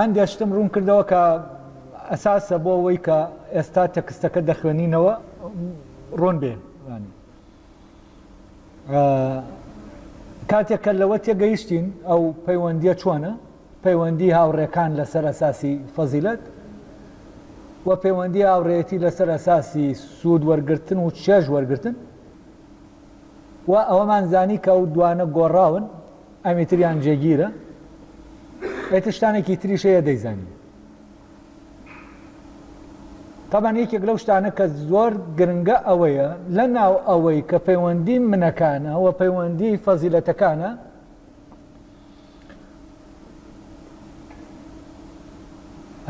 هەندێ شتم ڕوون کردەوە کە ئەساسە بۆ ئەوەی کە ئێستا تەکستەکە دەخوێنینەوە ڕۆن بێ کاتێک کە لەوە تێگەیشتین ئەو پەیوەندیە چۆنە پەیوەندی هاوڕێکان لەسەر ئەساسی فەزیلت و پەیوەندی هاوڕێتی لەسەر ئەساسی سوود وەرگتن و چێژ وەرگتن و ئەوەمان زانی کە ئەو دوانە گۆڕاون ئەمی تریان جێگیرە ئیتر شتانێکی تریش هەیە دەیزانین تەبان یەکێک لەو شتانە کە زۆر گرنگە ئەوەیە لە ناو ئەوەی کە پەیوەندی منەکانە و پەیوەندی فەزیلەتەکانە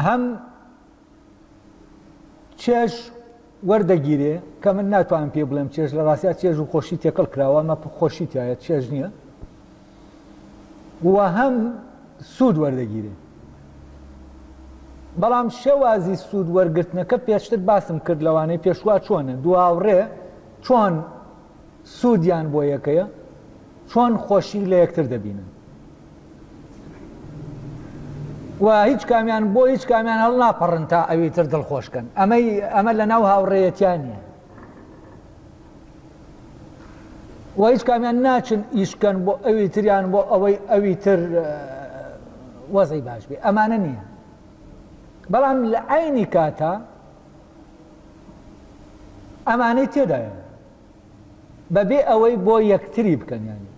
هەم چێژ وەردەگیرێ کە من ناتوانم پێ بڵێم چێژ لە ڕاستیا چێژ و خۆشی تێکەڵ کراوە ئەمە خۆشی تایە چێژ نییە و هەم سوود وەردەگیرێ بەڵام شێوازی سوود وەرگرتنەکە پێشتر باسم کرد لەوانەی پێشوا چۆنە دواوڕێ چۆن سوودیان بۆ یەکەیە چۆن خۆشی لە یەکتر دەبینن و هیچ کامیان بۆ هیچ کامیان هەڵ ناپەڕن تا ئەوی تر دڵخۆشکەن ئەمەی ئەمە لە ناو هاوڕێەتیان نیە و هیچ کامیان ناچن ئیشکەن بۆ ئەوی تریان بۆ ئەوەی ئەوی تر وەزەی باش بێ ئەمانە نییە بەڵام لە ئاینی کاتا ئەمانەی تێدایە بەبێ ئەوەی بۆ یەکتری بکەن یانی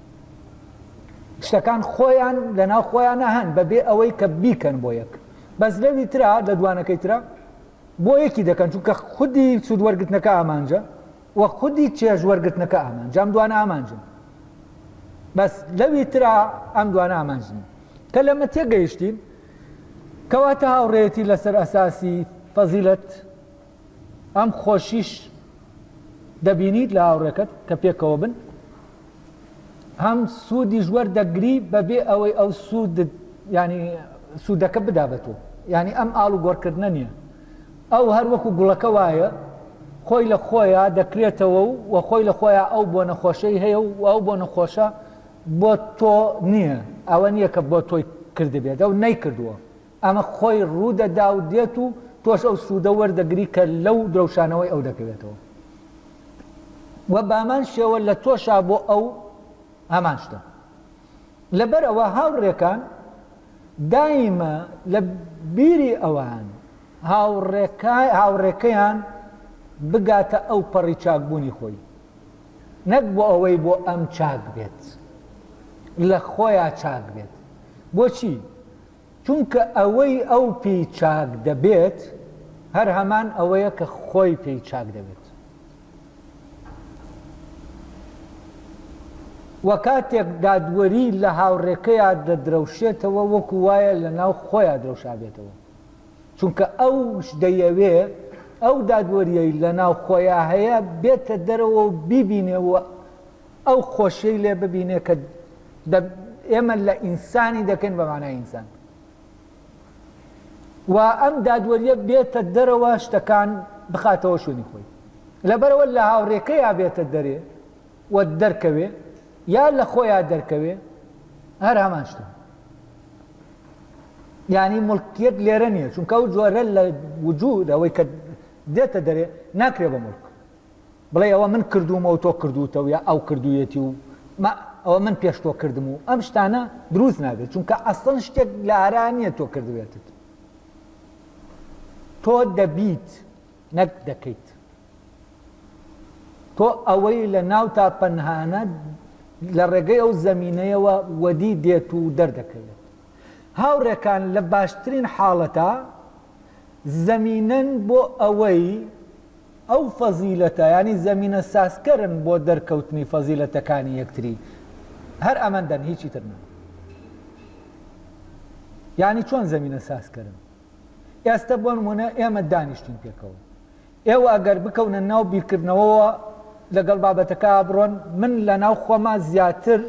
شتەکان خۆیان لەناو خۆیانە هەن بەبێ ئەوەی کە بیکەن بۆ یەک بەس لەوی ترا لە دوانەکەی ترا بۆ یەکی دەکەن چونکە خودی سوود وەرگتنەکە ئامانجە و خودی چێژ وەرگتنەکە ئامان جام دوانە ئامانجن بەس لەوی ترا ئەم دوانە ئامانجنی کە لەمە تێگەیشتین کەواتە هاوڕێتی لەسەر ئەساسی فەزیلت ئەم خۆشیش دەبینیت لە هاوڕێکەت کە پێکەوە بن هەم سوودیش وەردەگری بەبێ ئەوەی ئەو سوود ینی سوودەکە بدا بە تۆ ینی ئەم ئاڵ و گۆڕکردنە نییە ئەو هەر وەکو گوڵەکە وایە خۆی لە خۆیە دەکرێتەوە و وە خۆی لە خۆیە ئەو بۆ نەخۆشەی هەیە و ئەو بۆ نەخۆشە بۆ تۆ نییە ئەوە نییە کە بۆ تۆی کردبێت ئەو نەیکردووە ئەمە خۆی ڕوودەدا و دێت و تۆش ئەو سوودە وەردەگری کە لەو درەوشانەوەی ئەو دەکەوێتەوە و بامان شێوە لە تۆشا بۆ ئەو هەمان شتە لەبەر ئەوە هاوڕێکان دایمە لە بیری ئەوان هاوڕێکەیان بگاتە ئەو پەڕی چاکبوونی خۆی نەک بۆ ئەوەی بۆ ئەم چاک بێت لە خۆیان چاک بێت بۆچی چونکە ئەوەی ئەو پێی چاک دەبێت هەر هەمان ئەوەیە کە خۆی پێی چاک دەبێت. وە کاتێک دادوەری لە هاوڕێکەیا دەدرەوشێتەوە وەکو وایە لە ناو خۆیا درەوشابێتەوە. چونکە ئەوش دەیەوێ ئەو دادوەریەی لە ناو خۆیا هەیە بێتە دەرەوە و بیبینێ و ئەو خۆشیەی لێ ببینێ کە دە ئێمە لە ئینسانی دەکەین بە مانای ئینسان و ئەم دادوەریە بێتە دەرەوە شتەکان بخاتەوە شوێنی خۆی لەبەرەوە لە هاوڕێکەیە بێتە دەرێ و دەرکەوێ یا لە خۆیان دەرکەوێ هەر هەمان شتە ینی ملکیت لێرە نییە چونکە و جۆرە لە وجود ئەوەی کە دێتە دەرێ ناکرێ بە ملک بڵێی ئەوە من کردوومە و تۆ کردووتە و یا ئەو کردوویەتی و مە ئەوە من پێش تۆ کردم و ئەم شتانە دروست نابێت چونکە ئەسڵەن شتێک لە ئارا نییە تۆ کردوێتت تۆ دەبیت نەک دەکەیت تۆ ئەوەی لە ناو تا پەنهانە لە ڕێگەی ئەو زمینەیەوە وەدی دێت و دەردەکەوێت هاوڕێکان لە باشترین حاڵەتە زمینەن بۆ ئەوەی ئەو فەزیلەتە یانی زەمینە سازکەرن بۆ دەرکەوتنی فەزیلەتەکانی یەکتری هەر ئەمەندەن هیچی تر نا یانی چۆن زەمینە سازکەرن ئێستە بۆ نمونە ئێمە دانیشتین پێکەوە ئێوە ئەگەر بکەونە ناو بیرکردنەوەوە لەگەڵ بابەتەکە بڕۆن من لە ناو خۆما زیاتر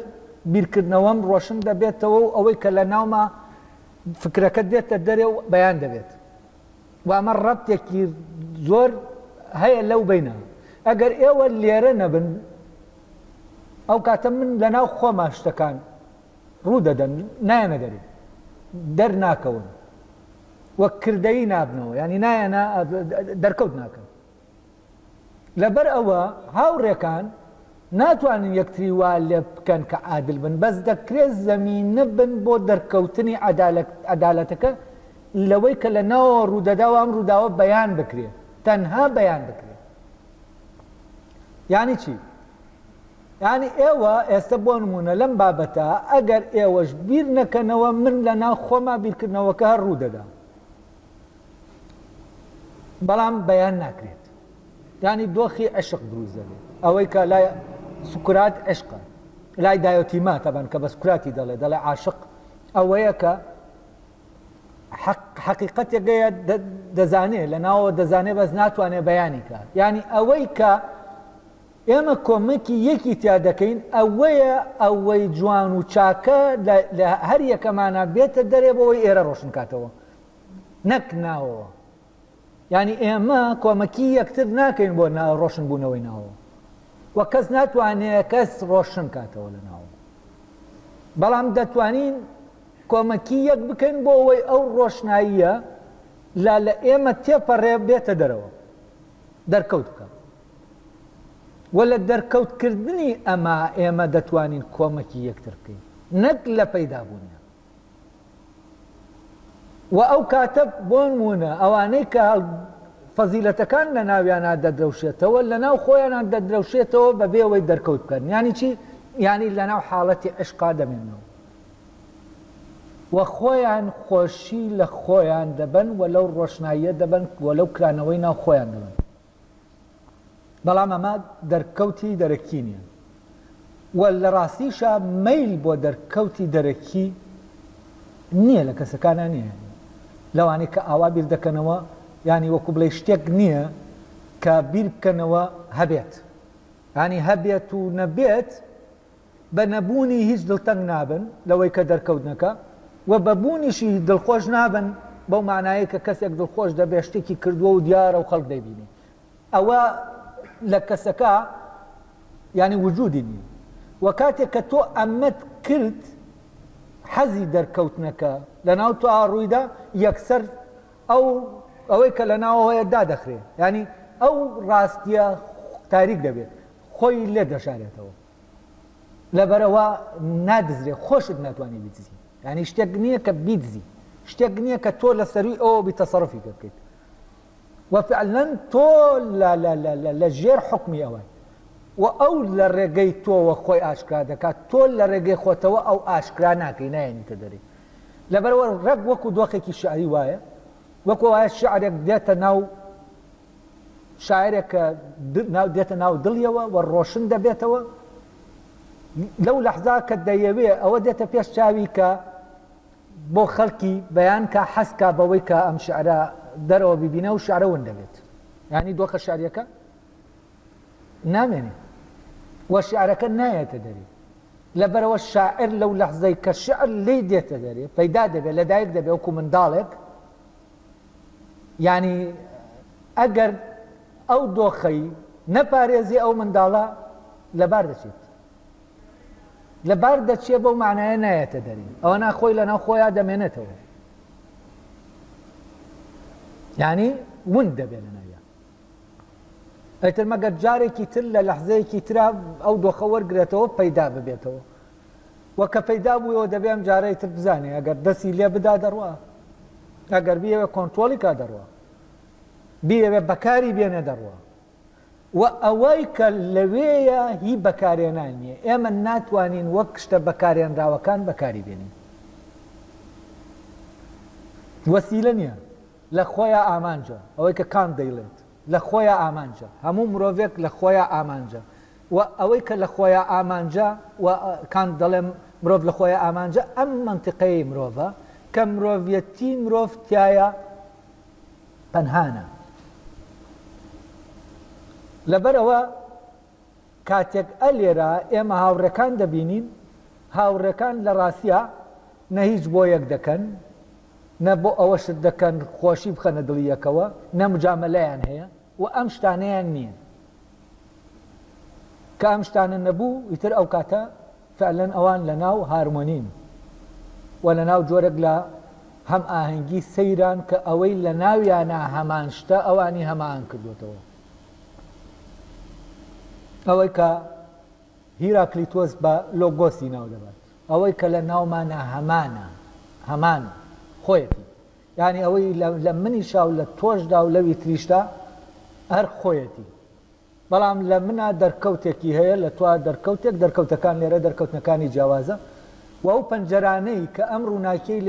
بیرکردنەوەم ڕۆشن دەبێتەوە و ئەوەی کە لە ناوما فکرەکە دێتە دەرێ و بەیان دەبێت و ئەمە ڕەبتێکی زۆر هەیە لەو بەینە ئەگەر ئێوە لێرە نەبن ئەو کاتە من لەناو خۆما شتەکان ڕوو دەدەن نایەنە دەری دەرناکەون وەک کردەی نابنەوە ینی نایەنە دەرکەوت ناکەن لەبەر ئەوە هاوڕێکان ناتوانن یەکتری وا لێ بکەن کە عادل بن، بەس دەکرێت زەمینە بن بۆ دەرکەوتنی عەدالەتەکە لەوەی کە لە ناوەوە ڕوودەدا و ئەم ڕووداوە بەیان بکرێت، تەنها بەیان بکرێت. یانی چی؟ یانی ئێوە ئێستە بۆ نموونە لەم بابەتە ئەگەر ئێوەش بیر نەکەنەوە من لە ناو خۆما بیرکردنەوەکە هەر ڕوودەدا. بەڵام بەیان ناکرێت یانی دۆخی عشق دروست دەبێت ئەوەی کە لای سکرات عشقە لای دایۆتیما تەبان کە بە سکراتی دەڵێ دەڵێ عاشق ئەوەیە کە حقیقەتێکگەیە دەزانێ لە ناوە دەزانێ بەس ناتوانێت بەیانی کات ینی ئەوەی کە ئێمە کۆمەکی یەکی تیا دەکەین ئەوەیە ئەوەی جوان و چاکە لە هەر یەکەمانا بێتە دەرێ بۆوەی ئێرە ڕۆشن کاتەوە نەک ناوەوە یانی ئێمە کۆمەکی یەکتر ناکەین بۆ ڕۆشن بوونەوەی ناوەوە و کەس ناتوانێت کەس ڕۆشن کاتەوە لە ناوە بەڵام دەتوانین کۆمەکی یەک بکەین بۆ ئەوەی ئەو ڕۆشناییە لا لە ئێمە تێپەڕێ بێتە دەرەوە دەرکەوت بکە وە لە دەرکەوت کردنی ئەمە ئێمە دەتوانین کۆمەکی یەکتر بکەین نەک لە پەیدا بوونیان وە ئەو کاتە بۆنمونە ئەوانەی کە فەزیلەتەکان لە ناویانە دەدرەوشێتەوە لە ناو خۆیانان دەدرەوشێتەوە بە بێوەی دەرکەوت بکەن ینی چی ینی لە ناو حاڵەتی عشقا دەمێنەوە وە خۆیان خۆشی لە خۆیان دەبن و لەو ڕۆشناییە دەبن و لەو کرانەوەی ناو خۆیان دەبن بەڵام ئەمە دەرکەوتی دەرەکی نیە و لە ڕاستیشا مەیل بۆ دەرکەوتی دەرەکی نیە لە کەسەکانا نیە لەوانەی کە ئاوا بیر دەکەنەوە یانی وەکو بڵێ شتێک نیە کە بیر بکەنەوە هەبێت ینی هەبێت و نەبێت بە نەبوونی هیچ دڵتەنگ نابن لەوەی کە دەرکەوتنەکە و بە بوونیشی دڵخۆش نابن بەو مانایەی کە کەسێک دڵخۆش دەبێت شتێکی کردووە و دیارە و خەڵک دەیبینی ئەوە لە کەسەکە یعنی وجودی نییە و کاتێک کە تۆ ئەمەت کرد حەزی دەرکەوتنەکە لەناو تۆ ئاڕوویدا یەکسەر ئەو ئەوەی کە لە ناوەوەیە دادەخرێ ینی ئەو ڕاستیە تاریک دەبێت خۆی لێ دەشارێتەوە لەبەرئەوە نادزرێ خۆشت ناتوانی بیدزی یعنی شتێک نییە کە بیدزی شتێک نییە کە تۆ لە سەروی ئەوە بی تەسەڕفی پێ بکەیت وفعلا تۆ لە ژێر حکمی ئەوە و ئەو لە ڕێگەی تۆوە خۆی ئاشکرا دەکات تۆ لە ڕێگەی خۆتەوە ئەو ئاشکرا ناکەی نایەنیتە دەری لەبەرەوە ڕەگ وەکو دۆخێکی شعری وایە وەکو وایە شعرێک دێتە ناو شاعیرێک کە دێتە ناو دڵیەوە و ڕۆشن دەبێتەوە لەو لەحزا کە دەیەوێ ئەوە دێتە پێش چاوی کە بۆ خەڵکی بەیان کە حەسکا بەوەی کە ئەم شعرە دەرەوە ببینە و شعرە ون دەبێت ینی دۆخە شاریەکە نامێنێ وە شعرەکە نایەتە دەری لەبەرەوە شاعر لەو لەحزەی کە شعر لی دێتە دەرێ پەیدا دەبێت لەدایک دەبێ وکو منداڵێک یانی ئەگەر ئەو دۆخەی نەپارێزی ئەو منداڵە لەبار دەچێت لەبار دەچێت بەو معنایە نایەتە دەری ئەوە ناخۆی لەناو خۆیان دەمێنێتەوە یعنی ون دەبێت لە ناویان ئەتر مەگەر جارێکی تر لە لەحزەیەکی ترا ئەو دۆخە وەرگێتەوە پەیدا ببێتەوە وە کە پەیدا بوویەوە دەبێ ئەم جارەی تر بزانێ ئەگەر دەستی لێ بدا دەڕوا ئەگەر بیەوێ کۆنترۆڵی کا دەڕوا بیەوێ بەکاری بێنێ دەڕوا وە ئەوەی کە لەوێیە هی بەکارێنان نیە ئێمە ناتوانین وەک شتە بەکارێنراوەکان بەکاری بێنین وەسیلە نیە لە خۆیان ئامانجە ئەوەی کە کانت دەیڵێت لە خۆیا ئامانجە، هەموو مرۆڤێک لە خۆیا ئامانجە و ئەوەی کە لە خۆیا ئامانجە و کانت دەڵێ مرۆڤ لە خۆیا ئامانجە ئەم مەنتیقەی مرۆڤە کە مرۆڤیەتی مرۆڤ تیایا پەنهانە. لەبەرئەوە کاتێک ئە لێرە ئێمە هاوڕێکان دەبینین، هاوڕێکان لە ڕاستیا نە هیچ بۆ یەک دەکەن نە بۆ ئەوە شت دەکەن خۆشی بخەنە دڵی یەکەوە، نە مجامەلەیان هەیە و ئەم شتانەیان نییە. کە ئەم شتانە نەبوو، ئیتر ئەو کاتە فعلەن ئەوان لە ناو هارمۆنین و لە ناو جۆرێک لە هەمئاهەنگی سەیران کە ئەوەی لە ناویانا هەمان شتە ئەوانی هەمئاهەنگ کردۆتەوە. ئەوەی کە هیراکلیتۆس بە لۆگۆسی ناو دەبات. ئەوەی کە لە ناومانە هەمانە، هەمان خۆیەتی. یانی ئەوەی لە منیشا و لە تۆشدا و لەوی تریشدا هەر خۆیەتی. بەڵام لە منا دەرکەوتێکی هەیە، لە توا دەرکەوتێک، دەرکەوتەکان لێرە دەرکەوتنەکانی جیاوازە و ئەو پەنجەرانەی کە ئەم ڕووناکیەی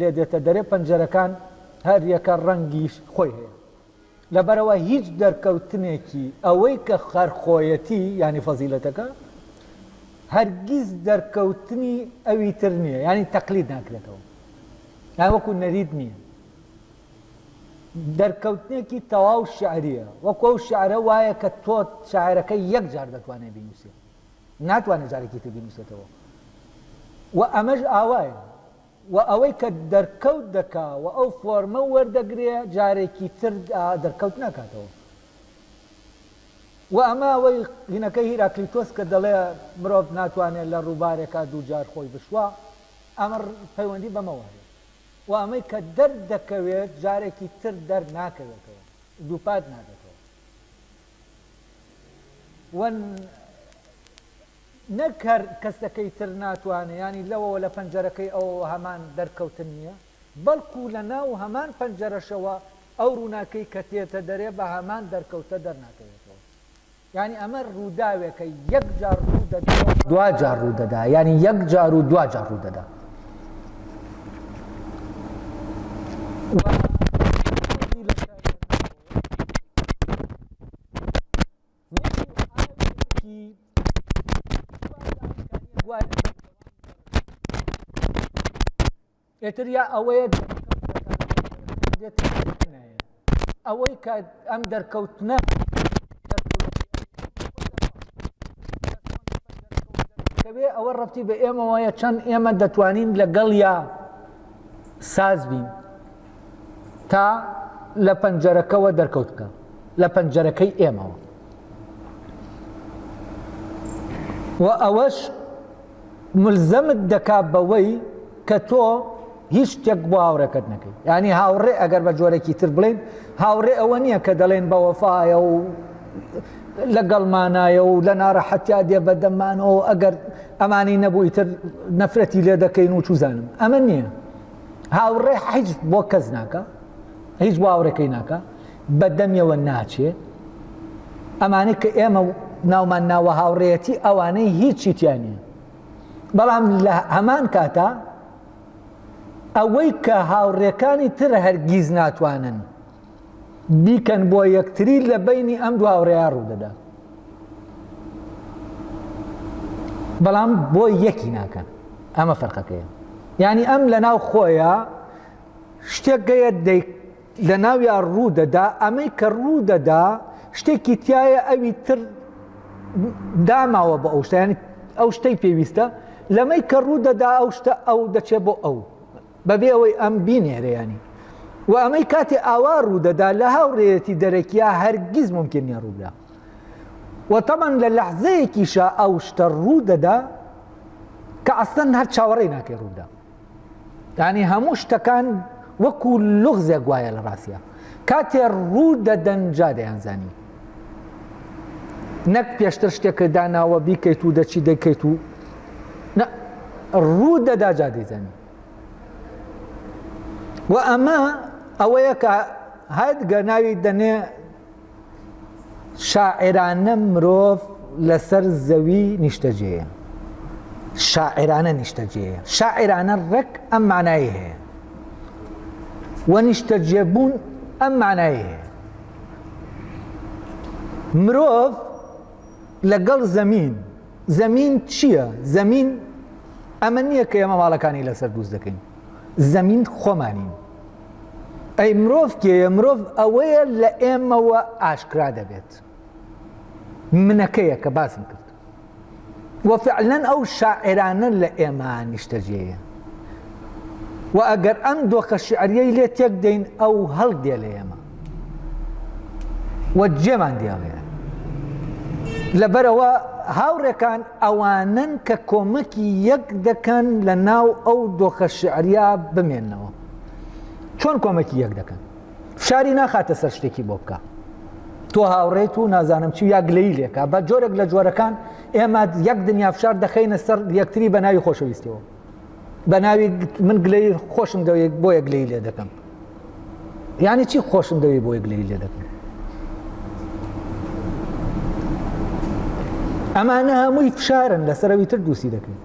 لێدێتە دەرێ، پەنجەرەکان هەر یەکە ڕەنگی خۆی هەیە. لەبەرئەوە هیچ دەرکەوتنێکی ئەوەی کە هەر خۆیەتی، یانی فەزیلەتەکە، هەرگیز دەرکەوتنی ئەوی تر نییە، یانی تەقلید ناکرێتەوە، یانی وەکو نەریت نییە، دەرکەوتنێکی تەواو شیعرییە، وەکو ئەو شیعرە وایە کە تۆ شاعیرەکە یەک جار دەتوانێت بینووسێت، ناتوانێت جارێکی تر بینووسێتەوە و ئەمەش ئاوایە. و ئەوەی کە دەرکەوت دەکا و ئەو فۆرمە وەردەگرێ جارێکی تر دەرکەوت ناکاتەوە و ئەمە ئەوەی قینەکەی هیراکلیتۆس کە دەڵێ مرۆڤ ناتوانێ لە ڕووبارێکا دوو جار خۆی بشوا ئەمە پەیوەندی بەمەوە هەیە و ئەمەی کە دەردەکەوێت جارێکی تر دەرناکەوێتەوە دووپات نابێتەوە و نەک هەر کەسەکەی تر ناتوانێ یانی لەوەوە لە پەنجەرەکەی ئەوەوە هەمان دەرکەوتن نییە، بەڵکوو لە ناو هەمان پەنجەرەشەوە ئەو ڕووناکەی کە تێتە دەرێ بە هەمان دەرکەوتە دەرناکەوێتەوە. یانی ئەمە ڕووداوێکە یەک جار ڕوو دەدا و دوا جار ڕوو دەدا، یانی یەک جار و دوا جار ڕوو دەدا. ئێتر یا ئەوەیە ئەوەی کە ئەم دەرکەوتنە دەکەوێ ئەوە ڕەتی بە ئێمەوەیە چەند ئێمە دەتوانین لەگەڵ یا ساز بین تا لە پەنجەرەکەوە دەرکەوت بکە لە پەنجەرەکەی ئێمەوە و ئەوەش ملزەمت دەکا بەوەی کە تۆ هیچ شتێک بۆ هاوڕێکەت نەکەی ینی هاوڕێ ئەگەر بە جۆرەێکی تر بڵێن هاوڕێ ئەوە نییە کە دەڵێن بە وەفاایە و لەگەڵمانایە و لە ناڕەحەتیا دێ بەدەمانەوە ئەگەر ئەمانی نەبووی تر نەفرەتی لێ دەکەین و چوزانم ئەمە نییە هاوڕێ حیج بۆ کەس ناکە هیچ بۆ هاوڕێکەی ناکە بە دەمیەوە ناچێ ئەمانەی کە ئێمە ناومان ناوە هاوڕێەتی ئەوانەی هیچی تیانە بەڵام لە هەمان کاتا ئەوەی کە هاوڕێکانی تر هەرگیز ناتوانن بیکەن بۆ یەکتری لە بینی ئەم دو هاوڕێیان ڕوودەدا بەڵام بۆ یەکی ناکەن ئەمە فەرقەکەیە ینی ئەم لە ناو خۆیە شتێک گەیە دەیک لە ناویان ڕوو دەدا ئەمەی کە ڕوو دەدا شتێکی تایە ئەوی تر داماوە بە ئەو شتیان ئەو شتەی پێویستە لەمەی کە ڕوو دەدا ئەو شتە ئەو دەچێت بۆ ئەو بەبێ ئەوەی ئەم بینێرێ یانی و ئەمەی کاتێ ئاوا ڕوودەدا لە هاوڕێەتی دەرەکیە هەرگیز ممکن نیە ڕوودا و تەمان لە لەحزەیەکیشە ئەو شتە ڕوو دەدا کە ئەسەن هەر چاوەڕێ ناکەی ڕوودا ینی هەموو شتەکان وەکو لغزێک گوایە لە ڕاستە کاتێ ڕوو دەدەنجا دەیانزانی نەک پێشتر شتێکت داناوە بیکەیت و دەچی دەکەیت و ڕوو دەدا جا دەیزانی و ئەمە ئەوەیە کە هەت گەناوی دەنێ شاعرانە مرۆڤ لەسەر زەوی نیشتەجێە شاعرانە نیشتەجێە شاعرانە ڕێک ئەم مانایی هەیە و نیشتەجێبوون ئەم مانایی هەیە مرۆڤ لەگەڵ زەمین زەمین چییە زەمین ئەمە نییە کە ئێمە ماڵەکانی لەسەر دووست دەکەین زەمین خۆمانین ئەی مرۆڤ کێە مرۆڤ ئەوەیە لە ئێمەوە ئاشکرا دەبێت منەکەیە کە باسم کرد وە فعلەن ئەو شاعیرانە لە ئێمە نیشتەجێیە و ئەگەر ئەم دۆخە شعریەی لێ تێک دەین ئەو هەڵدێ لە ئێمە وە جێمان دیاڵێ لەبەرەوە هاوڕێکان ئەوانن کە کۆمەکی یەک دەکەن لە ناو ئەو دۆخە شعریا بمێنەوە چۆن کۆمەکی یەک دەکەن فشاری ناخاتە سەر شتێکی بۆ بکە تۆ هاوڕێت و نازانم چی یا گلەی لێکە بە جۆرێک لە جۆرەکان ئێمە یەک دنیا فشار دەخینە سەر یەکتری بە ناوی خۆشەویستەوە بە ناوی من گلەی خۆشم دەوێت بۆ یەک گلەی لێ دەکەم یعنی چی خۆشم دەوێت بۆ یەک گلەی لێ دەکەم ئەمانە هەمووی فشارن لەسەرەوی تر دووسی دەکەن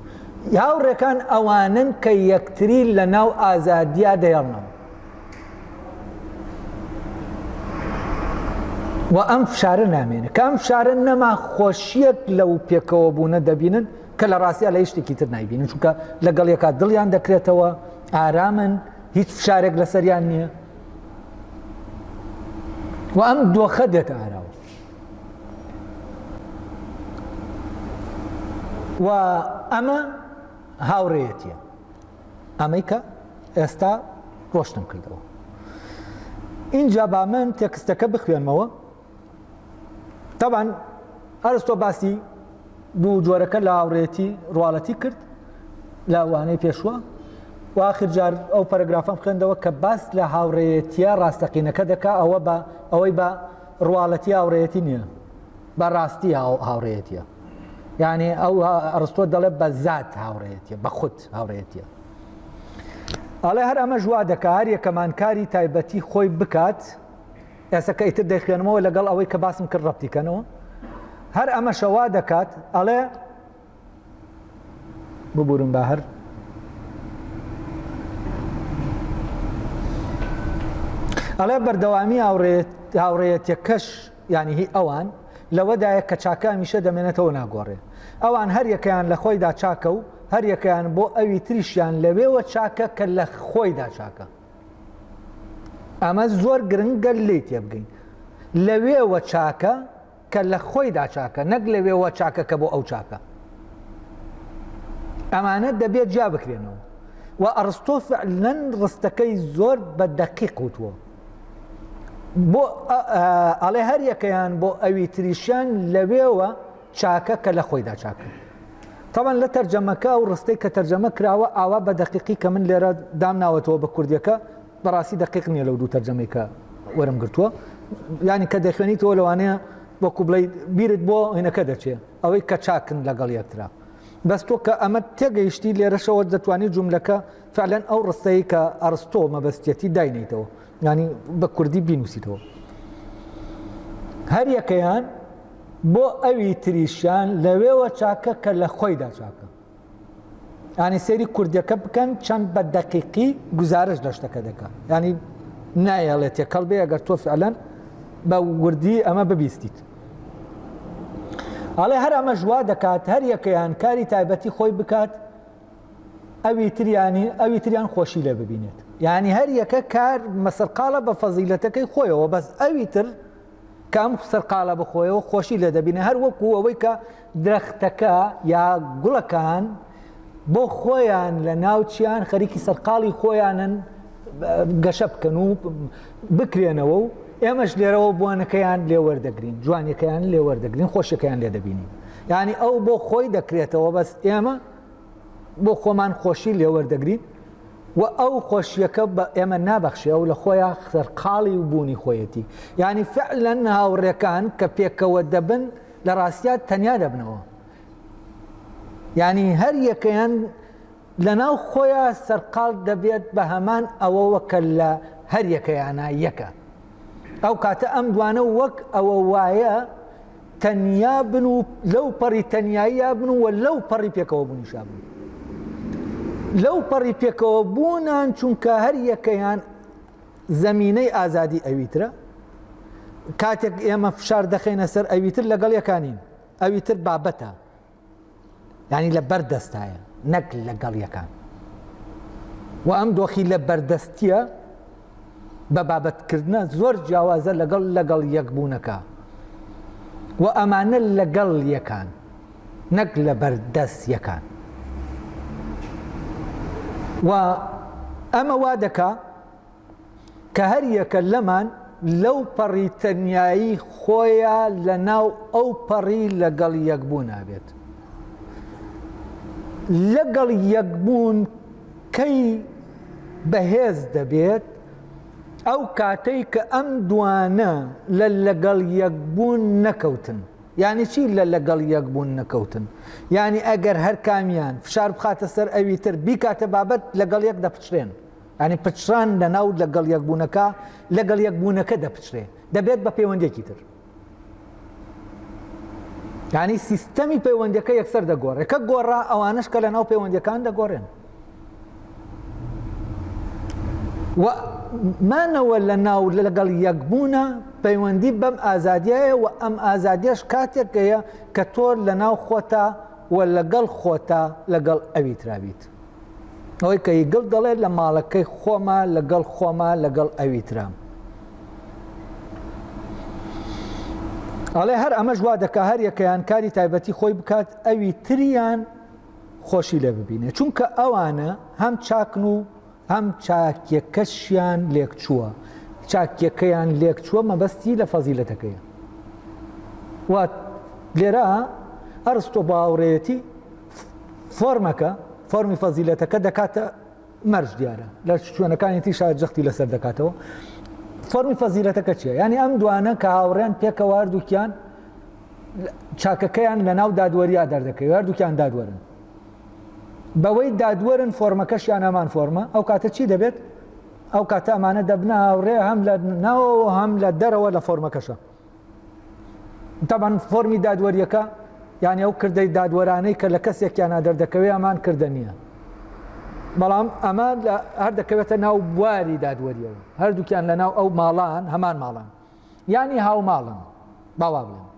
هاوڕێکان ئەوانن کە یەکتری لە ناو ئازادیا دەیاڵنەوە و ئەم فشارە نامێنە کە ئەم فشارە نەما خۆشیەک لە و پێکەوە بوونە دەبینن کە لە ڕاستە لە یشتێکی تر نایبینن چونکە لەگەڵ یەکا دڵیان دەکرێتەوە ئارامن هیچ فشارێک لەسەریان نییە و ئەم دۆخە دێتە ئاراوە و ئەمە هاوڕێەتە ئەمەی کە ئێستا ڕۆشتم کردەوە اینجا با من تێکستەکە بخوێنمەوە تەبان ئەرستۆ باسی دوو جۆرەکە لە هاوڕێتی ڕواڵەتی کرد لە وانەی پێشوە و آخرجار ئەو پەرگرافم خوێندەوە کە باس لە هاوڕێتیە ڕاستەقینەکە دەکا ئەوە بە ئەوەی بە ڕواڵەتی هاوڕێتی نییە بە ڕاستی هاوڕێتیە یعنی ئەو ئەرستۆ دەڵێ بە زات هاوڕێتیە بە خودت هاوڕێیەتیە ئەڵێ هەر ئەمەش وا دەکا هەر یەکەمان کاری تایبەتی خۆی بکات ئێستا کە ئیتر دەیخوێنمەوە لەگەڵ ئەوەی کە باسم کرد ڕەتیکەنەوە هەر ئەمەشەوا دەکات ئەڵێ ببورم بە هەر ئەڵێ بەردەوامی هاوڕێت هاوڕێەتەکەش یانی هی ئەوان لەوەدایە کە چاکە هەمیشە دەمێنێتەوەو ناگۆڕێ. ئەوان هەر یەکەیان لە خۆیدا چاکە و هەر یەکەیان بۆ ئەوی تریشیان لەوێوە چاکە کە لە خۆیدا چاکە. ئەمە زۆر گرنگە لێی تێبگەین. لەوێوە چاکە کە لە خۆیدا چاکە نەک لەوێوە چاکە کە بۆ ئەو چاکە. ئەمانە دەبێت جیا بکرێنەوە. و ئەڕستۆ فعلەن ڕستەکەی زۆر بە دەقیق وتووە. بۆ ئەڵێ هەر یەکەیان بۆ ئەوی تریشیان لەوێوە چاکە کە لە خۆیدا چاکە تاوان لە تەرجەمەکە و ڕستەی کە تەرجەمە کراوە ئاوا بە دەقیقی کە من لێرە دام ناوەتەوە بە کوردیەکە بەڕاستی دەقیق نییە لەو دوو تەرجەمەیکە وەرم گرتووە ینی کە دەخوێنیتەوە لەوانەیە وەکو بڵی بیرت بۆ هینەکە دەچێت ئەوەی کە چاکن لەگەڵ یەکترا بەس تۆ کە ئەمە تێگەیشتی لێرەشەوە دەتوانانی جوملەکە فعلەن ئەو ڕستەی کە ئەرستۆ مەبەستیەتی داینەیتەوە یانی بە کوردی بینوسیتەوە هەر یەکەیان بۆ ئەوی تریشیان لەوێوە چاکە کە لە خۆیدا چاکە ینی سێری کوردەکە بکەن چەند بە دەقیقی گزارش لە شتەکە دەکە ینی نایەڵێت تێکەڵ بێ ئەگەر تۆ فعلەن بە وردی ئەمە ببیستیت ئەڵێ هەر ئەمە ژوا دەکات هەر یەکەیان کاری تایبەتی خۆی بکات ئەوی تریانی ئەوی تریان خۆشی لێ ببینێت یعنی هەر یەکە کار مەسەرقالە بە فەزیلەتەکەی خۆیەوە بەس ئەوی تر کە ئەم سەرقالە بخۆیەوە خۆشی لێ دەبینە هەر وەکو ئەوەی کە درەختەکە یا گوڵەکان بۆ خۆیان لە ناوچیان خەریکی سەرقاڵی خۆیانن گەشە بکەن و بکرێنەوە و ئێمەش لێرەوە بوانەکەیان لێوەردەگرین جوانەکەیان لێوەردەگرین خۆشەکەیان لێ دەبینین یعنی ئەو بۆ خۆی دەکرێتەوە بەس ئێمە بۆ خۆمان خۆشی لێوەردەگرین و ئەو خۆشیەکە بە ئێمە نابەخشێ و لە خۆیان خەرقاڵی و بوونی خۆیەتی ینی فعلەن هاوڕێکان کە پێکەوە دەبن لە ڕاستیات تەنیا دەبنەوە ینی هەر یەکەیان لە ناو خۆیان سەرقال دەبێت بە هەمان ئەوەوە کە لە هەر یەکەیانە یەکە ئەو کاتە ئەم دوانە وەک ئەوە وایە تەنیا بن و لەو پەڕی تەناییە بن و لەو پەڕی پێکەوە بوونیشا بن لەو پەڕی پێکەوە بوونان چونکە هەر یەکەیان زەمینەی ئازادی ئەویترە کاتێک ئێمە فشار دەخینە سەر ئەویتر لەگەڵ یەکانین ئەویتر بابەتە یانی لە بەر دەستایە نەک لە گەڵیەکان و ئەم دۆخی لە بەردەستیە بە بابەتکردە زۆر جیاوازە لەگەڵ لەگەڵ یەکبوونەکە و ئەمانە لەگەڵ یەکان نەک لە بەردەست یەکان و ئەمە وا دەکا کە هەر یەکە لەمان لەو پەڕی تەنیایی خۆیە لە ناو ئەو پەڕی لەگەڵ یەکبوونا بێت لەگەڵ یەکبوون کەی بەهێز دەبێت ئەو کاتەی کە ئەم دوانە لە لەگەڵ یەکبوون نەکەوتن یعنی چی لە لەگەڵ یەکبوون نەکەوتن یعنی ئەگەر هەر کامیان فشار بخاتە سەر ئەوی تر بیکاتە بابەت لەگەڵ یەک دەپچرێن یانی پچڕان لە ناو لەگەڵ یەکبوونەکە لەگەڵ یەکبوونەکە دەپچرێ دەبێت بە پەیوەندێکی تر یانی سیستەمی پەیوەندەکە یەکسەر دەگۆڕێ کە گۆڕا ئەوانش کە لە ناو پەیوەندەکان دەگۆڕێن مانەوە لە ناو لەگەڵ یەکبوونە پەیوەندی بەم ئازادیایە و ئەم ئازادیش کاتێکەیە کە تۆر لە ناو خۆتا و لەگەڵ خۆتا لەگەڵ ئەوی ترابیت ئەوەی کە یگڵ دەڵێت لە ماڵەکەی خۆمە لەگەڵ خۆمە لەگەڵ ئەوی ترام ئەڵێ هەر ئەمەش وا دەکا هەر یەکەیان کاری تایبەتی خۆی بکات ئەوی تریان خۆشی لێ ببینێ چونکە ئەوانە هەم چاکن و هەم چاکیەکەشیان لێک چووە چاکیەکەیان لێک چووە مەبەستی لە فەزیلەتەکەی وات لێرە ئەرستۆ باوڕێتی فۆرمەکە فۆرمی فەزیلەتەکە دەکاتە مەرج دیارە لە شوێنەکانی تی شار جەختی لەسەر دەکاتەوە فەرمی فەزیلەتەکە چیە ینی ئەم دوانە کە هاوڕێن پێکەوار دووکیان چاکەکەیان لە ناو دادوەریا دەردەکەی وار دووکیان دادوەرن بەوەی دادوەرن فۆرمەکەشیان ئەمان فۆرمە ئەو کاتە چی دەبێت ئەو کاتە ئەمانە دەبنە هاوڕێ هەم لە ناوەوە هەم لە دەرەوە لە فۆرمەکەشە تەبەن فۆرمی دادوەریەکە یان ئەو کردەی دادوەرانەی کە لە کەسێکیانە دەردەکەوێ ئەمان کردە نییە بەڵام ئەمە لە هەر دەکەوێتە ناو بواری دادوەریەوە هەردووکیان لە ناو ئەو ماڵان هەمان ماڵان ینی هاو ماڵن باوا بڵێن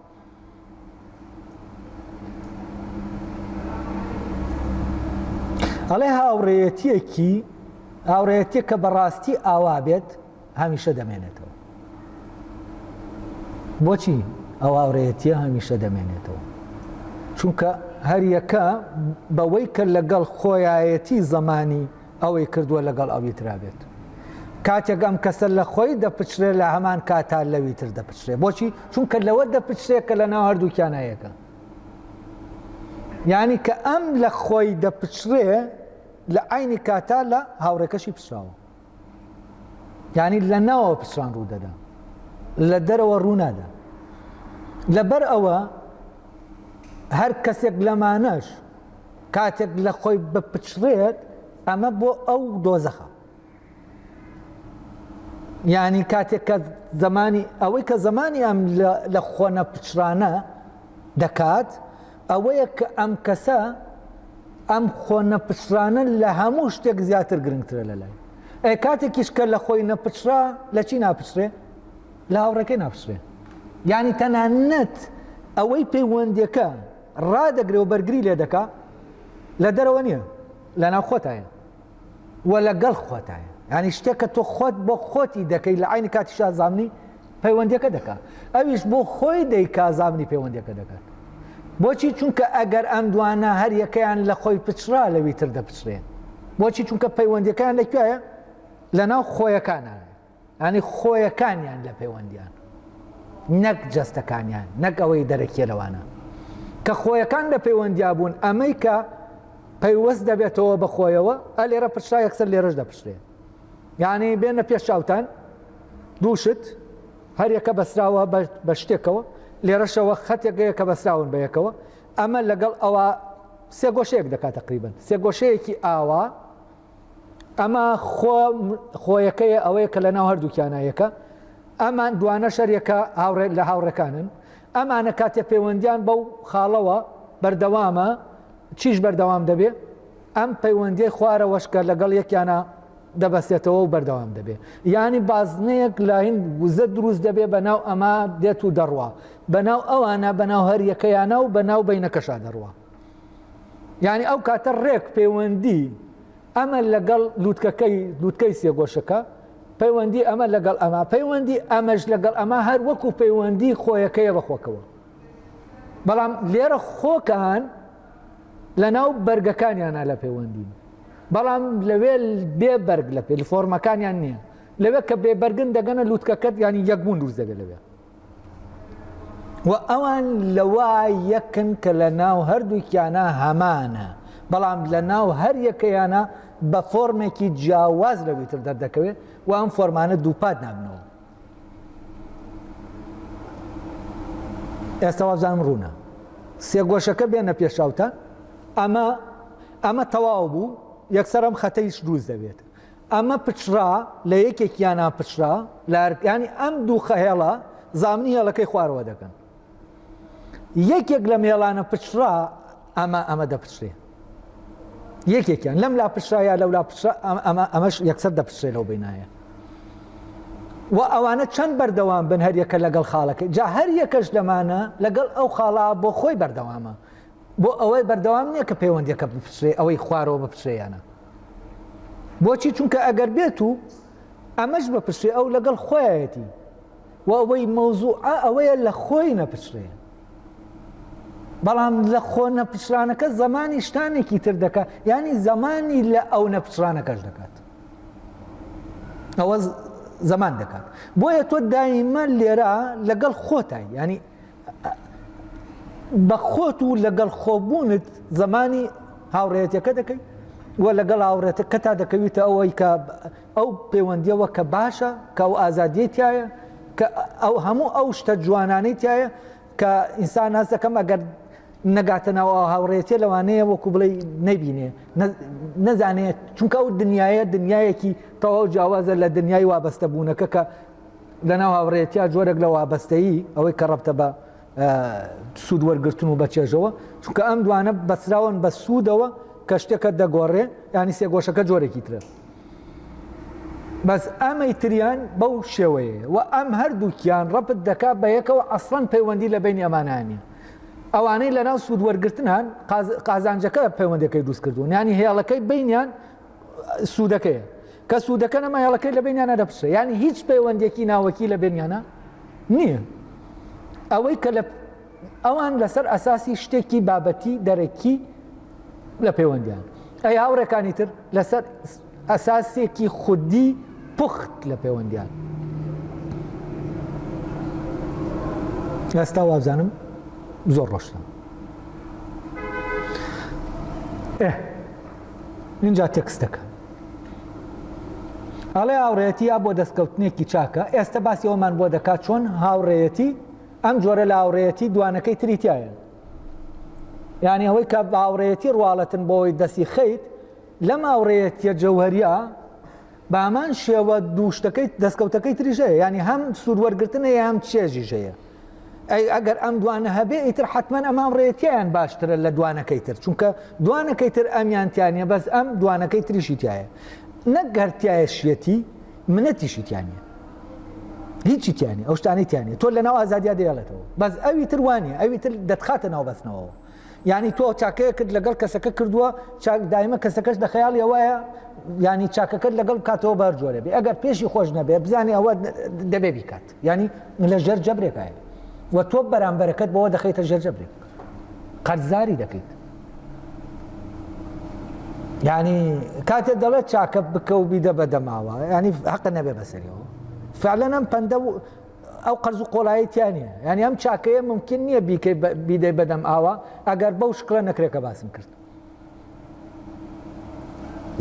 ئەڵێ هاوڕێەتیەکی هاوڕێەتە کە بەڕاستی ئاوا بێت هەمیشە دەمێنێتەوە. بۆچی ئەو هاورێیەتیە هەمیشە دەمێنێتەوە؟ چونکە هەریەکە بەوەی کە لەگەڵ خۆیایەتی زەمانی ئەوەی کردووە لەگەڵ ئەوی ترابێت. کاتێک ئەم کەسە لە خۆی دەپچرێ لە هەمان کاتا لەوی تر دەپچرێ بۆچی چونکە لەوە دەپچرێ کە لە ناو هەردووکیانایەکە. یعنی کە ئەم لە خۆی دەپچرێ لە عینی کاتا لە هاوڕێکەشی پچراوە. یعنی لە ناوە پچڕان ڕوو دەدا لە دەرەوە ڕوونادا لەبەر ئەوە هەر کەسێک لەمانەش کاتێک لە خۆی بپچڕێت ئەمە بۆ ئەو دۆزەخە یعنی کاتێک کە زمانی ئەوەی کە زمانی ئەم لە خۆنە پچرانە دەکات ئەوەیە کە ئەم کەسە ئەم خۆ نەپچڕانە لە هەموو شتێک زیاتر گرنگترە لە لای ئەی کاتێکیش کە لە خۆی نەپچرا لە چی ناپچرێ لە هاوڕێکەی ناپچرێ یعنی تەنانەت ئەوەی پەیوەندەکە ڕادەگرێ و بەرگری لێ دەکا لە دەرەوە نییە لە ناوخۆتایە و لە گەڵ خۆتایە ینی شتێک کە تۆ خۆت بۆ خۆتی دەکەی لە عینی کاتی شازامنی پەیوەندەکە دەکات ئەویش بۆ خۆی دەی کازامنی پەیوەندەکە دەکات بۆچی چونکە ئەگەر ئەم دوانە هەر یەکەیان لە خۆی پچرا لەوی تر دەپچرێن بۆچی چونکە پەیوەندەکان لەکوێە لە ناو خۆیەکانە یانی خۆیەکانیان لە پەیوەندیان نەک جەستەکانیان نەک ئەوەی دەرەکیە لەوانە کە خۆیەکان لە پەیوەندیا بوون ئەمەی کە پەیوەست دەبێتەوە بە خۆیەوە ئە لێرە پرشا یەکسەر لێرەش دەپشرێ یعنی بێنە پێش چاوتان دووشت هەریەکە بەسراوە بە شتێکەوە لێرەشەوە خەتێکەیە کە بەسراون بە یەکەوە ئەمە لەگەڵ ئەوە سێگۆشەیەک دەکات تقریبن سێگۆشەیەکی ئاوا ئەمە خۆ خۆیەکەیە ئەوەیە کە لە ناو هەردووکیانە یەکە ئەمان دوانە شەرەکە هاوڕێ لە هاوڕەکانن ئەمانە کاتێ پەیوەندیان بەو خاڵەوە بەردەوامە چیش بەردەوام دەبێ ئەم پەیوەندی خوارەوەشکە لەگەڵ یەکیانە دەبەستێتەوە و بەردەوام دەبێ ینی بازنەیەک لاین وزە دروست دەبێ بە ناو ئەما دێت و دەڕوا بەناو ئەوانە بەناو هەر یەکەیانە و بەناو بینەکەشا دەڕوە یانی ئەو کاتە ڕێک پەیوەندی ئەمە لەگەڵ لووتکەکەی لووتکەی سێگۆشەکە پەیوەندی ئەمە لەگەڵ ئەمە پەیوەندی ئەمەش لەگەڵ ئەمە هەر وەکو پەیوەندی خۆیەکەیە بەخۆکەوە بەڵام لێرە خۆکان لە ناو بەرگەکانیانە لە پەیوەندی بەڵام لەوێ بێ بەرگ لە پێ فۆرمەکانیان نییە لەوێ کە بێبەرگن دەگەنە لووتکەکەت ینی یەکبوون دوور دەبێت لەوێ و ئەوان لەوا یەکن کە لە ناو هەردووکیانە هەمانە بەڵام لە ناو هەر یەکەیانە بە فۆرمێکی جیاواز لە ویتر دەردەکەوێت و ئەم فۆرمانە دووپات نابنەوە ئێستا وابزانم ڕوونە سێ گۆشەکە بێنە پێشاوتان ئەمە ئەمە تەواو بوو یەکسەرم خەتەیش دروست دەبێت ئەمە پچڕا لە یەکێک یا ناپچڕا لە ئەرکانی ئەم دوو خەهێڵە زامنی هێڵەکەی خوارەوە دەکەن یەکێک لە مێڵانە پچڕا ئەمە ئەمە دەپچێ یەکێکیان لەم لا پشایە لەو لا ئەمە ئەمەش یەکسەر دەپشێ لەو بینایە و ئەوانە چەند بەردەوام بن هەریەکە لەگەڵ خاڵەکە جا هەر یەکەش لەمانە لەگەڵ ئەو خاڵا بۆ خۆی بەردەوامە بۆ ئەوەی بەردەوام نییە کە پەیوەندیەکە بپچێ ئەوەی خوارەوە بپچێ یانە بۆچی چونکە ئەگەر بێت و ئەمەش بە پرسێ ئەو لەگەڵ خۆیەتی و ئەوەی مەوزوع ئەوەیە لە خۆی نەپچێ بەڵام لە خۆ نەپچرانەکە زمانی شتانێکی تر دەکات ینی زمانی لە ئەو نەپچرانەکەش دەکات ئەوە زمان دەکات بۆیە تۆ دایمە لێرە لەگەڵ خۆتای ینی بە خۆت و لەگەڵ خۆبوونت زمانی هاوڕێتەکە دەکەی و لەگەڵ هاوڕێتەکە تا دەکەویتە ئەوەی کە ئەو پەیوەندیەوە کە باشە کە ئەو ئازادیە تایە کە ئەو هەموو ئەو شتە جوانانەی تایە کە ئینسان ناز دەکەم ئەگەر نەگاتە ناوە هاوڕێتێ لەوانەیە وەکو بڵێ نەبینێ نەزانێت چونکە ئەو دنیاە دنیایەکی تەواو جیاوازە لە دنیای وابەستە بوونەکە کە لەناو هاوڕێیەتیا جۆرێک لە وابەستەیی ئەوەی کە ڕەبتە بە سوود وەرگتن و بەچێژەوە چونکە ئەم دوانە بەسراون بە سوودەوە کە شتەکە دەگۆڕێ ینی سێگۆشەکە جۆرێکی ترە بەس ئەمەی تریان بەو شێوەیە و ئەم هەردووکیان ڕەپت دەکا بە یەکەوە ئەسڵەن پەیوەندی لە بینی ئەمانانی ئەوانەی لەناو سوود وەرگتنان قازانجەکە پەیوەندەکەی دروست کردوون ینی هێڵەکەی بینیان سوودەکەیە کە سوودەکە نەما هێڵەکەی لە بینیانە دەپشە ینی هیچ پەیوەندێکی ناوەکی لە بینیانە نییە ئەوەی کە لە ئەوان لەسەر ئەساسی شتێکی بابەتی دەرەکی لە پەیوەندیان ئەی هاوڕێکانی تر لەسەر ئەساسێکی خودی پخت لە پەیوەندیان ئێستا وابزانم زۆر ڕۆشتم ئێ ئینجا تێکست دەکا ئەڵێ هاوڕێیەتی ئەبوە دەستکەوتنێکی چاکە ئێستا باسی ئەومان بۆ دەکات چۆن هاوڕێیەتی ئەم جۆرە لە هاوڕێیەتی دوانەکەی تری تایە یعنی ئەوەی کە باوڕێتی ڕواڵەتن بۆی دەستی خەیت لەم ئاوڕێتە جەوهریا بەهەمان شێوە دوو شتەکەی دەستکەوتەکەی تریش هەیە یعنی هەم سوود وەرگرتن هەیە هەم چێژیش هەیە ئەی ئەگەر ئەم دوانە هەبێ ئیتر حتمما ئەمان ڕێتیان باشترە لە دوانەکەی تر چونکە دوانەکەی تر ئەمیانتیانە بەس ئەم دوانەکەی تریشی تایە نەک گەرتایە شێتی منەتیشی تیانە هیچی تیانە ئەو شتانەی تیانە تۆ لە ناو ئازادیا دەیڵێتەوە بەس ئەوی تر وانە ئەوی تر دەتخاتە ناو بەستنەوە یانی تۆ چاکەیەکت لەگەڵ کەسەکە کردووە چاک دایمە کەسەکەش لە خەیاڵی ئەوەیە ینی چاکەکەت لەگەڵ کاتەوە بار جۆرە بێ ئەگەر پێشی خۆش نەبێ بزانانی ئەوە دەبێ بیکات ینی لە ژێر جەبرێکای و تۆ بەرامبەرەکەت بەوە دەخیتە ژێر جەبرێک قەرزاری دەکەیت ینی کاتێ دەڵێت چاکە بکە و بیدە بە دەماوە ینی حقە نەبێ بەسەریەوە فعلەنم پندە ئەو قەرز و قۆڵایی تیا نییە یعنی ئەم چاکەیە ممکن نییە بیکەی بیدەی بەدەم ئاوا ئەگەر بەو شکڵە نەکرێکە باسم کرد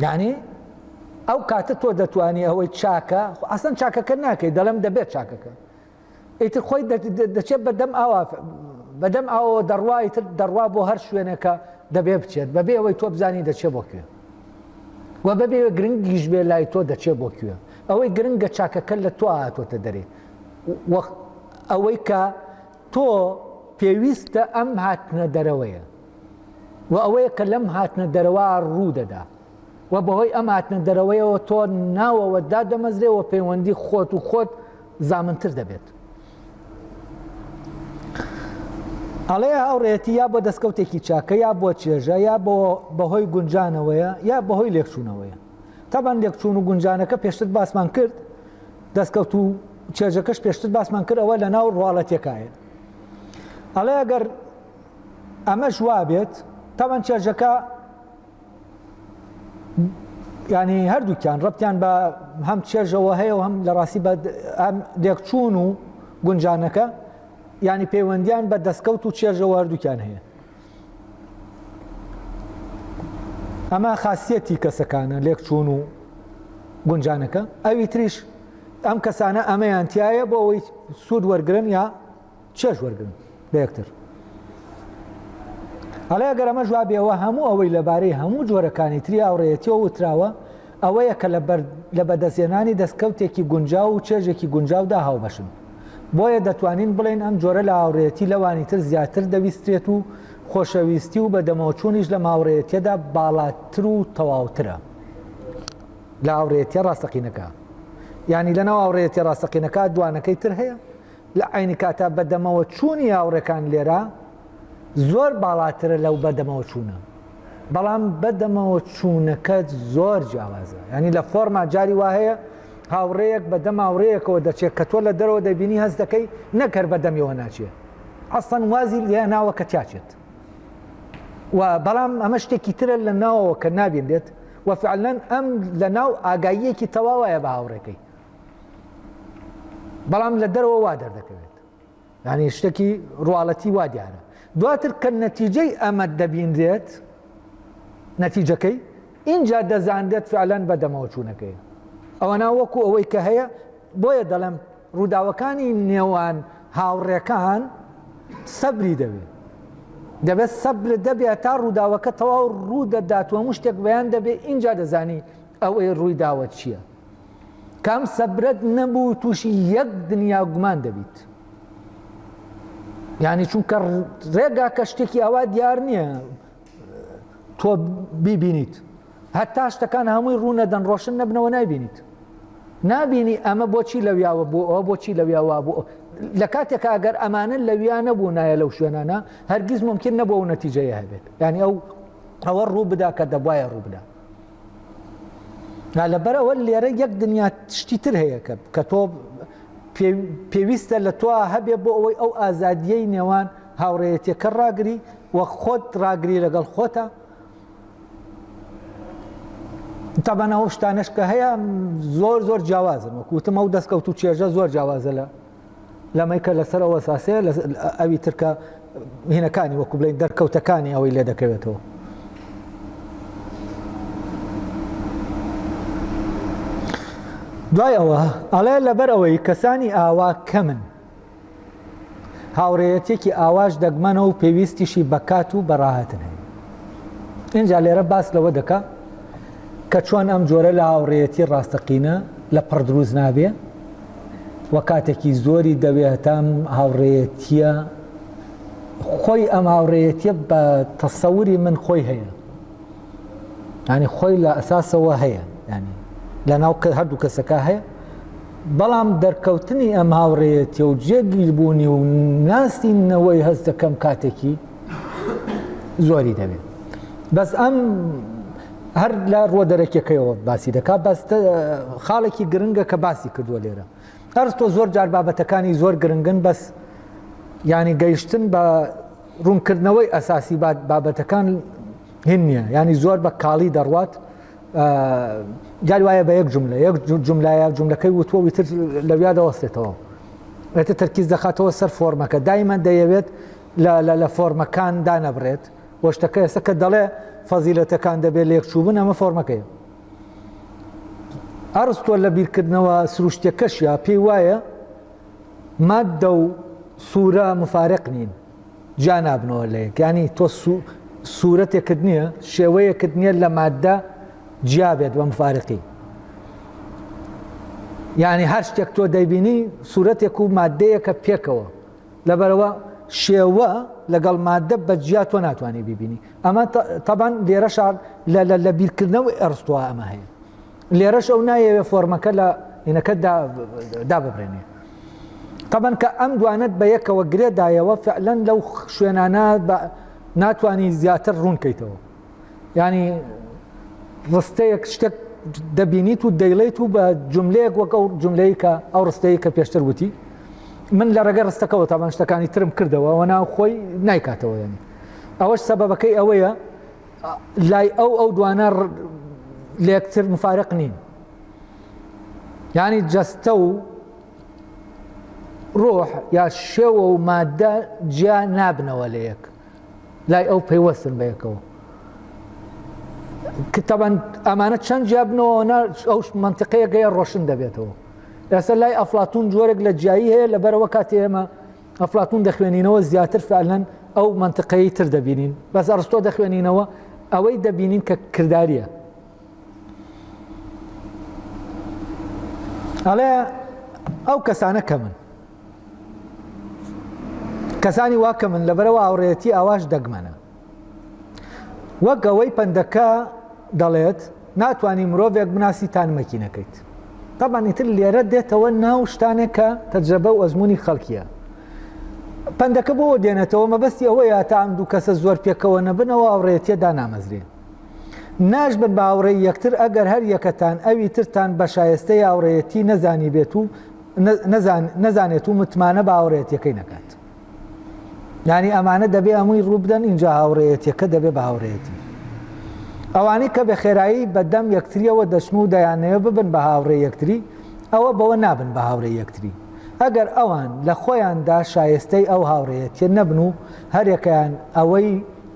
یعنی ئەو کاتە تۆ دەتوانانی ئەوەی چاکە ئەسن چاکەکە ناکەی دەڵم دەبێت چاکەکە ئیتر خۆی دەچێت بەدەم ئاوا بەدەم ئاوە دەڕوای تر دەڕوا بۆ هەر شوێنەکە دەبێ بچێت بەبێ ئەوەی تۆ بزانی دەچێت بۆ کوێ و بەبێ گرنگیش بێ لای تۆ دەچێت بۆ کوێ ئەوەی گرنگە چاکەکە لە تۆ هاتۆتە دەرێ و ئەوەی کە تۆ پێویستە ئەم هاتنە دەرەوەیە و ئەوەیە کە لەم هاتنە دەرەوە ڕوو دەدا و بەهۆی ئەم هاتنە دەرەوەیەوە تۆ ناوەوە دادەمەزرێ و پەیوەندی خۆت و خۆت زامنتر دەبێت ئەڵێ هاوڕێتی یا بۆ دەستکەوتێکی چاکە یا بۆ چێژە یا بەهۆی گونجانەوەیە یا بەهۆی لێکچوونەوەیە تەبەن لێکچوون و گونجانەکە پێشتر باسمان کرد دەستکەوت و چێژەکەش پێشتر باسمان کرد ئەوە لە ناو ڕواڵەتەکایە ئەڵێ ئەگەر ئەمەش وابێت تەبەن چێژەکە ینی هەردووکیان ڕەتیان بە هەم چێژەوە هەیە و هەم لە ڕاستی بە ئەم لێکچوون و گونجانەکە ینی پەیوەندیان بە دەستکەوت و چێژەوە هەردووکیان هەیە ئەمە خاصیەتی کەسەکانە لێکچوون و گونجانەکە ئەوی تریش ئەم کەسانە ئەمەیان تایە بۆ ئەوەی سوود وەرگن یا چێژ وەرگن لە یەکتر هەڵێ گەرەمە جوابیەوە هەموو ئەوەی لەبارەی هەموو جۆرەکانی تری ئاوڕێتیەوە وتراوە ئەوەیە کە لە بەدەستێنانی دەستکەوتێکی گونجاو و چێژێکی گونجاودا هاوبەشن بۆیە دەتوانین بڵێین ئەم جۆرە لە هاوڕێیەتی لەوانی تر زیاتر دەویسترێت و خۆشەویستی و بەدەمەوەچوونیش لەم هاوڕێیەتیەدا باڵاتر و تەواوترە لە هاوڕێیەتیە ڕاستەقینەکە یانی لەناو هاوڕێیەتی ڕاستەقینەکە دوانەکەی تر هەیە لە عینی کاتا بەدەمەوە چوونی هاوڕێکان لێرە زۆر باڵاترە لەو بەدەمەوە چوونە بەڵام بەدەمەوە چوونەکەت زۆر جیاوازە ینی لە فۆرما جاری وا هەیە هاوڕێیەک بە دەم هاوڕێیەکەوە دەچێت کە تۆ لە دەرەوە دەبینی هەست دەکەی نەکەر بە دەمیەوە ناچێت ئەسەن وازی لێ ناوە کە تیاچێت و بەڵام ئەمە شتێکی ترە لە ناوەوە کە نابێن دێت و فعلەن ئەم لە ناو ئاگاییەکی تەواوایە بە هاوڕێکەی بەڵام لە دەرەوە وا دەردەکەوێت یانی شتەکی ڕواڵەتی وا دیارە دواتر کە نەتیجەی ئەمە دەبینرێت نەتیجەکەی ئینجا دەزانرێت فعلەن بە دەمەوەچوونەکەی ئەوەنا وەکو ئەوەی کە هەیە بۆیە دەڵێم ڕووداوەکانی نێوان هاوڕێکان سەبری دەوێت دەبێت سەبر دەبێت تا ڕووداوەکە تەواو ڕوو دەداتوە مشتێک بەیان دەبێت ئینجا دەزانی ئەوەی ڕووی داوە چییە کام سەبرەت نەبوو تووشی یەک دنیا گومان دەبیت یعنی چونکە ڕێگا کە شتێکی ئەوە دیار نییە تۆ بیبینیت هەتا شتەکان هەمووی ڕوونەدەن ڕۆشن نەبنەوە نایبینیت نابینی ئەمە بۆچی لەویاوە بۆ ئەوە بۆچی لەویاوە بۆ لە کاتێکە ئەگەر ئەمانە لەویا نەبوو نایە لەو شوێنانە هەرگیز ممکن نەبوو و نەتیجەیە هەبێت ینی ئەو ئەوە ڕوو بدا کە دەبواە ڕوو بدە نا لەبەر ئەوە لێرە یەک دنیا شتی تر هەیە کە کە تۆ پێویستە لە تۆ هەبێ بۆ ئەوەی ئەو ئازادیەی نێوان هاوڕێەتەکە ڕاگری و خۆت ڕاگری لەگەڵ خۆتە تابانەوە شتانش کە هەیە زۆر زۆر جیاوازن وەکوتم ئەو دەستکەوت و چێژە زۆر جیاوازە لە لەمەی کە لەسەر ئەو ئەساسەیە لە ئەوی ترکە هینەکانی وەکو بڵین دەرکەوتەکانی ئەوەی لێ دەکەوێتەوە دوای ئەوە ئەڵێ لەبەر ئەوەی کەسانی ئاوا کەمن هاوڕێەتێکی ئاواش دەگمەنە و پێویستیشی بەکات و بەڕاهاتن هەیە اینجا لێرە باس لەوە دەکا کە چۆن ئەم جۆرە لە هاوڕێەتی ڕاستەقینە لە پڕ دروست نابێ و کاتێکی زۆری دەوێتام هاوڕێیەتیە خۆی ئەم هاوڕێیەتیە بە تەسەوری من خۆی هەیە ینی خۆی لە ئەساسەوە هەیە ینی لە ناو کە هەردوو کەسەکە هەیە بەڵام دەرکەوتنی ئەم هاوڕێیەتی و جێگیر بوونی و ناسینەوەی هەست دەکەم کاتێکی زۆری دەوێت بەس ئەم هەر لە ڕوە دەرەکیەکەیەوە باسی دەکات بەس خاڵێکی گرنگە کە باسی کردووە لێرە ئەرستۆ زۆر جار بابەتەکانی زۆر گرنگن بەس ینی گەیشتن بە ڕوونکردنەوەی ئەساسی بابەتەکان هین نییە ینی زۆر بە کاڵی دەڕوات جار وایە بە یەک جملە یەک جملایە جملەکەی وتوە وتر لەویا دەوەستێتەوە ئەتە تەرکیز دەخاتەوە سەر فۆرمەکە دایمە دەیەوێت لە فۆرمەکان دانەبرێت بۆ شتەکە ئێستا کە دەڵێ فەزیلەتەکان دەبێت لێکچووبن ئەمە فۆرمەکەیە ئەرستۆ لە بیرکردنەوە سروشتەکەشیا پێی وایە مادە و سوورە مفارق نین جا نابنەوە لە یەکانی تۆ سوورەتێکت نییە شێوەیەکت نییە لە مادە جیا بێت بە مفارقی یعنی هەر شتێک تۆ دەیبینی سوورەتێک و مادەیەکە پێکەوە لەبەرئەوە شێوە لەگەڵ ماددە بە جیا تۆ ناتوانانی بیبینی ئەمە تەبان لێرەشا لە بیرکردنەوەی ئەرستوە ئەمە هەیە لێرەش ئەو نایەوێ فۆرمەکە لە هینەکە داببرێنێ تەبەن کە ئەم دوانت بە یەکەوە گرێدایەوە فعلەن لەو شوێنانە ناتوانانی زیاتر ڕوونکەیتەوە یانی ڕستەیەک شتێک دەبینیت و دەیڵیت و بە جملەیەک وەک ئەو جملەی کە ئەو ڕستەیە کە پێشتر وتی من لە ڕێگە ڕستەکەەوە تاوان شتەکانی ترم کردەوە وە ناو خۆی نایکاتەوە یانی ئەوەش سەبەکەی ئەوەیە لای ئەو ئەو دوانە لەکتر مفارق نین ینی جەستە و ڕۆح یا شێوە و مادە جیا نابنەوە لە یەک لای ئەو پەیوەستن بە یەکەوە کتەبەن ئەمانە چەند جیابنەوە ئەو منتقەیە گەیە ڕۆشن دەبێتەوە ئێستا لای ئەفلاتون جۆرێک لە جیایی هەیە لە بەرەوە کاتی ئێمە ئەفلاتون دەخوێنینەوە زیاتر فعلەن ئەو منتقەی تر دەبینین بەس ئەرستۆ دەخوێنینەوە ئەوەی دەبینین کە کردداریە ئەڵێ ئەو کەسانە کەمن کەسانی وا کە من لەبەرەوە هاوڕێتی ئاواش دەگمەنە وەک ئەوەی پەندەکە دەڵێت ناتوانانی مرۆڤێک بناسی تان مەکینەکەیت تاپانیتر لێرە دێتەوە ناو شتانێک کە تەجرەبە و ئەزمموی خەڵکیە پندەکە بۆ دێنێتەوە مەبەستی ئەوەیە تا ئەم دوو کەسە زۆر پێکەوە نەبنەوە ئاوڕێتیە دانامەزرێ ناش بن باوڕێ یەکتر ئەگەر هەر یەکەتان ئەوی ترتان بە شایستەی ئاوڕێتی نەزانی بێت و نەزانێت و متمانە باوەڕێتیەکەی نەکات یانی ئەمانە دەبێ ئەمووی ڕووبدەن اینجا هاوڕێەتیەکە دەبێ بە هاوڕێتی ئەوانەی کە بە خێرایی بەدەم یەکتریەوە دەچن و دەیانەیە ببن بە هاوڕێ یەکتری ئەوە بەوە نابن بە هاوڕێ یەکتری ئەگەر ئەوان لە خۆیاندا شایستەی ئەو هاوڕێەتە نەبن و هەرێکیان ئەوەی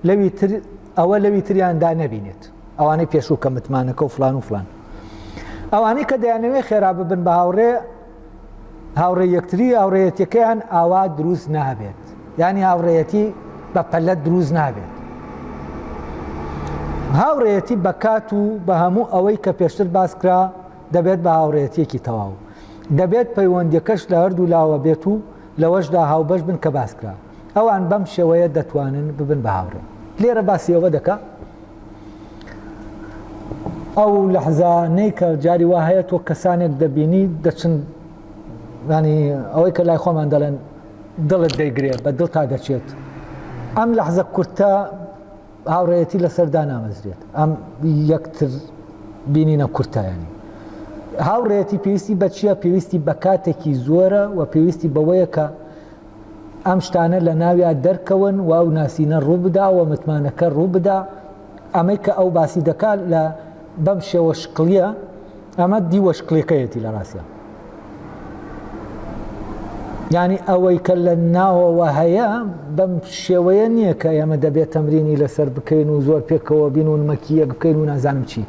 لەوی تر ئەوە لەوی تریاندا نەبینێت ئەوانەی پێشوو کە متمانەکە و فلان و فلان ئەوانەی کە دەیانەوێ خێرا ببن بە هاوڕێ هاوڕێ یەکتری هاوڕێەتەکەیان ئاوا دروست نابێت ینی هاوڕێەتی بە پەلە دروست نابێت هاوڕێەتی بەکات و بە هەموو ئەوەی کە پێشتر باسکرا دەبێت بە هاوڕێەتیەکی تەواو دەبێت پەیوەندەکەش لە هەردوو لاوە بێت و لەوەشدا هاوبەش بن کە باسکرا ئەوان بەم شێوەیە دەتوانن ببن بە هاوڕێ لێرە باسی ئەوە دەکا ئەو لەحزا نەی کە جاری وا هەیە تۆ کەسانێک دەبینی دەچن ینی ئەوەی کە لای خۆمان دەڵێن دڵت دەیگرێ بە دڵ تا دەچێت ئەم لەحزە کورتە هاوڕێتی لەسەردا نامەزرێت ئەم یەکتر بینینە کورتایانی هاوڕێتی پێویستی بەچیە پێویستی بە کاتێکی زۆرە و پێویستی بەوەیە کە ئەم شتانە لە ناویا دەرکەون و ئەو ناسینە ڕووبدا و متمانەکە ڕووبدا ئەمەی کە ئەو باسی دەکات لە بەم شێوە شکڵیە ئەمە دیوە شکلەکەیەتی لە ڕاستە ینی ئەوەی کە لە ناوەوە هەیە بەم شێوەیە نییە کە ئێمە دەبێت تەمرینی لەسەر بکەین و زۆر پێکەوە بین و نمەکی یەک بکەین و نازانم چی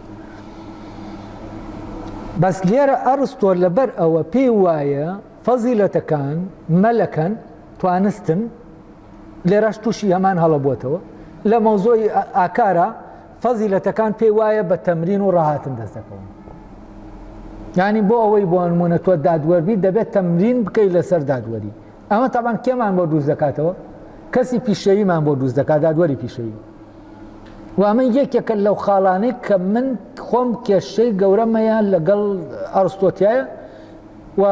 بەس لێرە ئەرستۆر لەبەر ئەوە پێی وایە فەزیلەتەکان، مەلەکەن، توانستن، لێرەش تووشی هەمان هەڵە بووەتەوە، لە مەوزوعی ئاکارا فەزیلەتەکان پێی وایە بە تەمرین و ڕاهاتن دەست دەکەون. یانی بۆ ئەوەی بۆ نمونە تۆ دادوەربی دەبێت تەمرین بکەیت لەسەر دادوەری. ئەمە تاوان کێمان بۆ دروست دەکاتەوە؟ کەسی پیشەویمان بۆ دروست دەکات دادوەری پیشەوی. وامە یەکێکە لەو خاڵانەی کە من خۆم کێشەی گەورەمەیە لەگەڵ ئەرستۆتیایە و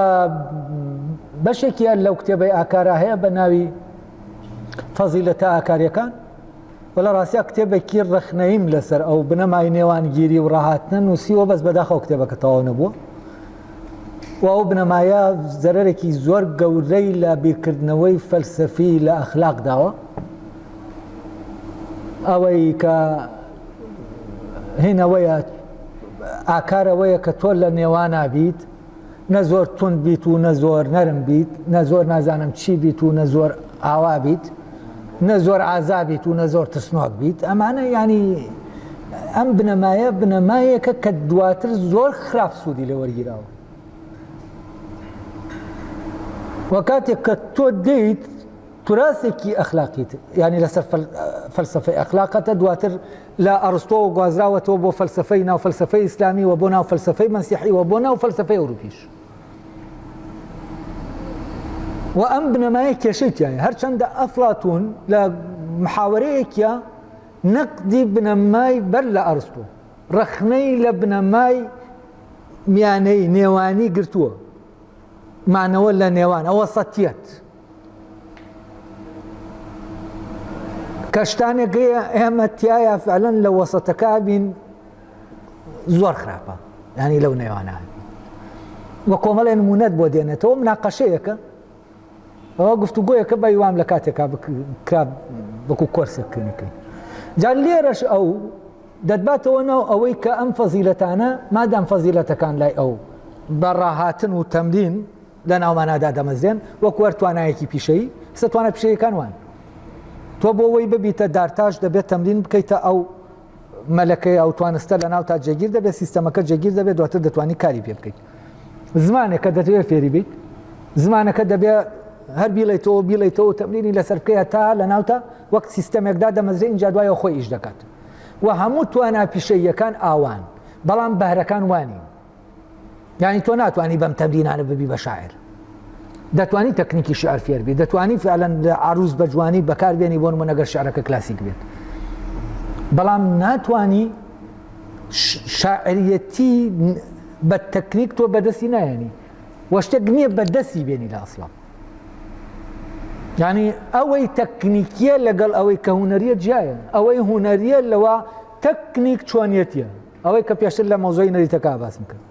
بەشێکیان لەو کتێبەی ئاکارا هەیە بە ناوی فەزیلەتە ئاکاریەکان و لە ڕاستیا کتێبێکی ڕخنەیم لەسەر ئەو بنەمای نێوانگیری و ڕاهاتنە نووسیوە بەس بەداخەوە کتێبەکە تەواو نەبووە و ئەو بنەمایە زەرەرێکی زۆر گەورەی لە بیرکردنەوەی فەلسەفی لە ئەخلاق داوە ئەوەی کە هینەوەیە ئاکارەوەیە کە تۆ لە نێوانابیت نە زۆر توند بیت و نە زۆر نەرم بیت نە زۆر نازانم چی بیت و نە زۆر ئاوا بیت نە زۆر ئازابیت و نە زۆر ترسنۆک بیت ئەمانە ینی ئەم بنەمایە بنەمایەکە کە دواتر زۆر خراپ سوودی لە وەرگیراوە وە کاتێک کە تۆ دەیت تراثێکی ئەخلاقی تر یانی لەسەر فەلسفەی ئەخلاقەتە دواتر لە ئەڕستۆوە گوازراوەتەوە بۆ فەلسفەی ناو فەلسفەی ئیسلامی و بۆ ناو فەلسفەی مەسیحی و بۆ ناو فەلسفەی ئەوروپیش و ئەم بنەمایە کێشێکیان هەرچەندە ئەفلاتون لە محاوەرەیەکە نەقدی بنەمای بەر لە ئەرستۆ ڕەخنەی لە بنەمای میانەی نێوانی گرتووە مانەوە لە نێوان ئەوە سەتیت کە شتانێکی ئێمە تایە فعلەن لە وەسەتەکە بین زۆر خراپە ینی لەو نێوانە وە کۆمەڵێ نمونەت بۆ دێنێتەوە مناقەشەیەەکە ئەوە گفتوگوۆیەکە بە وام لە کاتێکا کرا وەکو کۆرسە کلینیکەکەی جار لێرەش ئەو دەتباتەوە ناو ئەوەی کە ئەم فەزیلەتانە مادام فەزیلەتەکان لای ئەو بە ڕاهاتن و تەمرین لە ناومانا دادەمەزرێن وەکو هەر توانایەکی پیشەیی سە توانە پیشەیەکان وان تۆ بۆ وەی ببیتە دارتاش دەبێت تەمرین بکەیتە ئەو مەلەکەی ئەو توانستە لە ناو تا جێگیر دەبێت سیستەمەکە جێگیر دەبێت دواتر دەتوانانی کاری پێ بکەیت زمانێکە دەتوێت فێری بیت زمانەکە دەبێت هەر بیڵێتەوە بیڵێتەوە تەمرینی لەسەر بکەیە تا لە ناوتە وەک سیستەمێکدا دەمەزرێ اینجا دوایە خۆی ئیش دەکات و هەموو توانا پیشەیەکان ئاوان بەڵام بەهرەکان وانی یانی تۆ ناتوانانی بەم تەمرینانە ببی بە شاعر دەتوانی تەکنیکی شعر فێر بێت دەتوانی فعلەن لە عروس بە جوانی بەکاربیێنی بۆن من نەگەر شعرەکە کلاسیک بێت بەڵام ناتانی شاعریەتی بە تەکنیک تۆ بەدەستی نایەنی وەشتێک نییە بەدەستی بێنی لە ئەسڵام ینی ئەوەی تەکنیکیە لەگەڵ ئەوەی کە هوەریە جیایە ئەوەی هوەریە لەوە تەکنیک چۆنیەتە ئەوەی کە پێشتر لە مۆزۆی نەریتەکە باسم کرد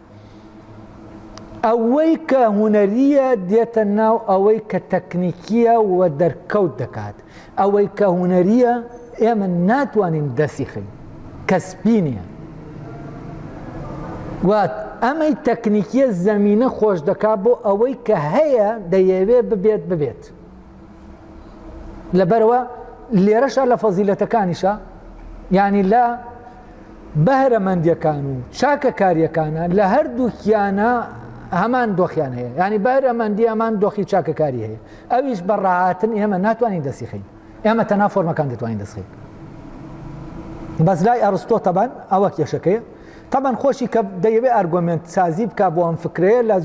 ئەوەی کە هوەریە دێتە ناو ئەوەی کە تەکنیکیە و دەرکەوت دەکات ئەوەی کە هوەریە ئێمە ناتوانین دەسی خین کەسبی نیە وات ئەمەی تەکنیکیە زەمینە خۆش دەکات بۆ ئەوەی کە هەیە دەیەوێ ببێت ببێت لەبەرەوە لێرەشە لە فەزیلەتەکانیشە ینی لە بەهرەمەندەکان و چاکەکاریەکانە لە هەردووکیانە هەمان دۆخیان هەیە ینی بەهرەمەندی هەمان دۆخی چاکەکاری هەیە ئەویش بە ڕاهاتن ئێمە ناتوانین دەسیخین ئێمە تەنا فۆرمەکان دەتوانین دەسخین بەس لای ئەرستۆ تەبان ئەوە کێشەکەی تەبەن خۆشی کە دەیەوێت ئەرگۆمنت سازی بک بۆ ئەم فکرەیە لە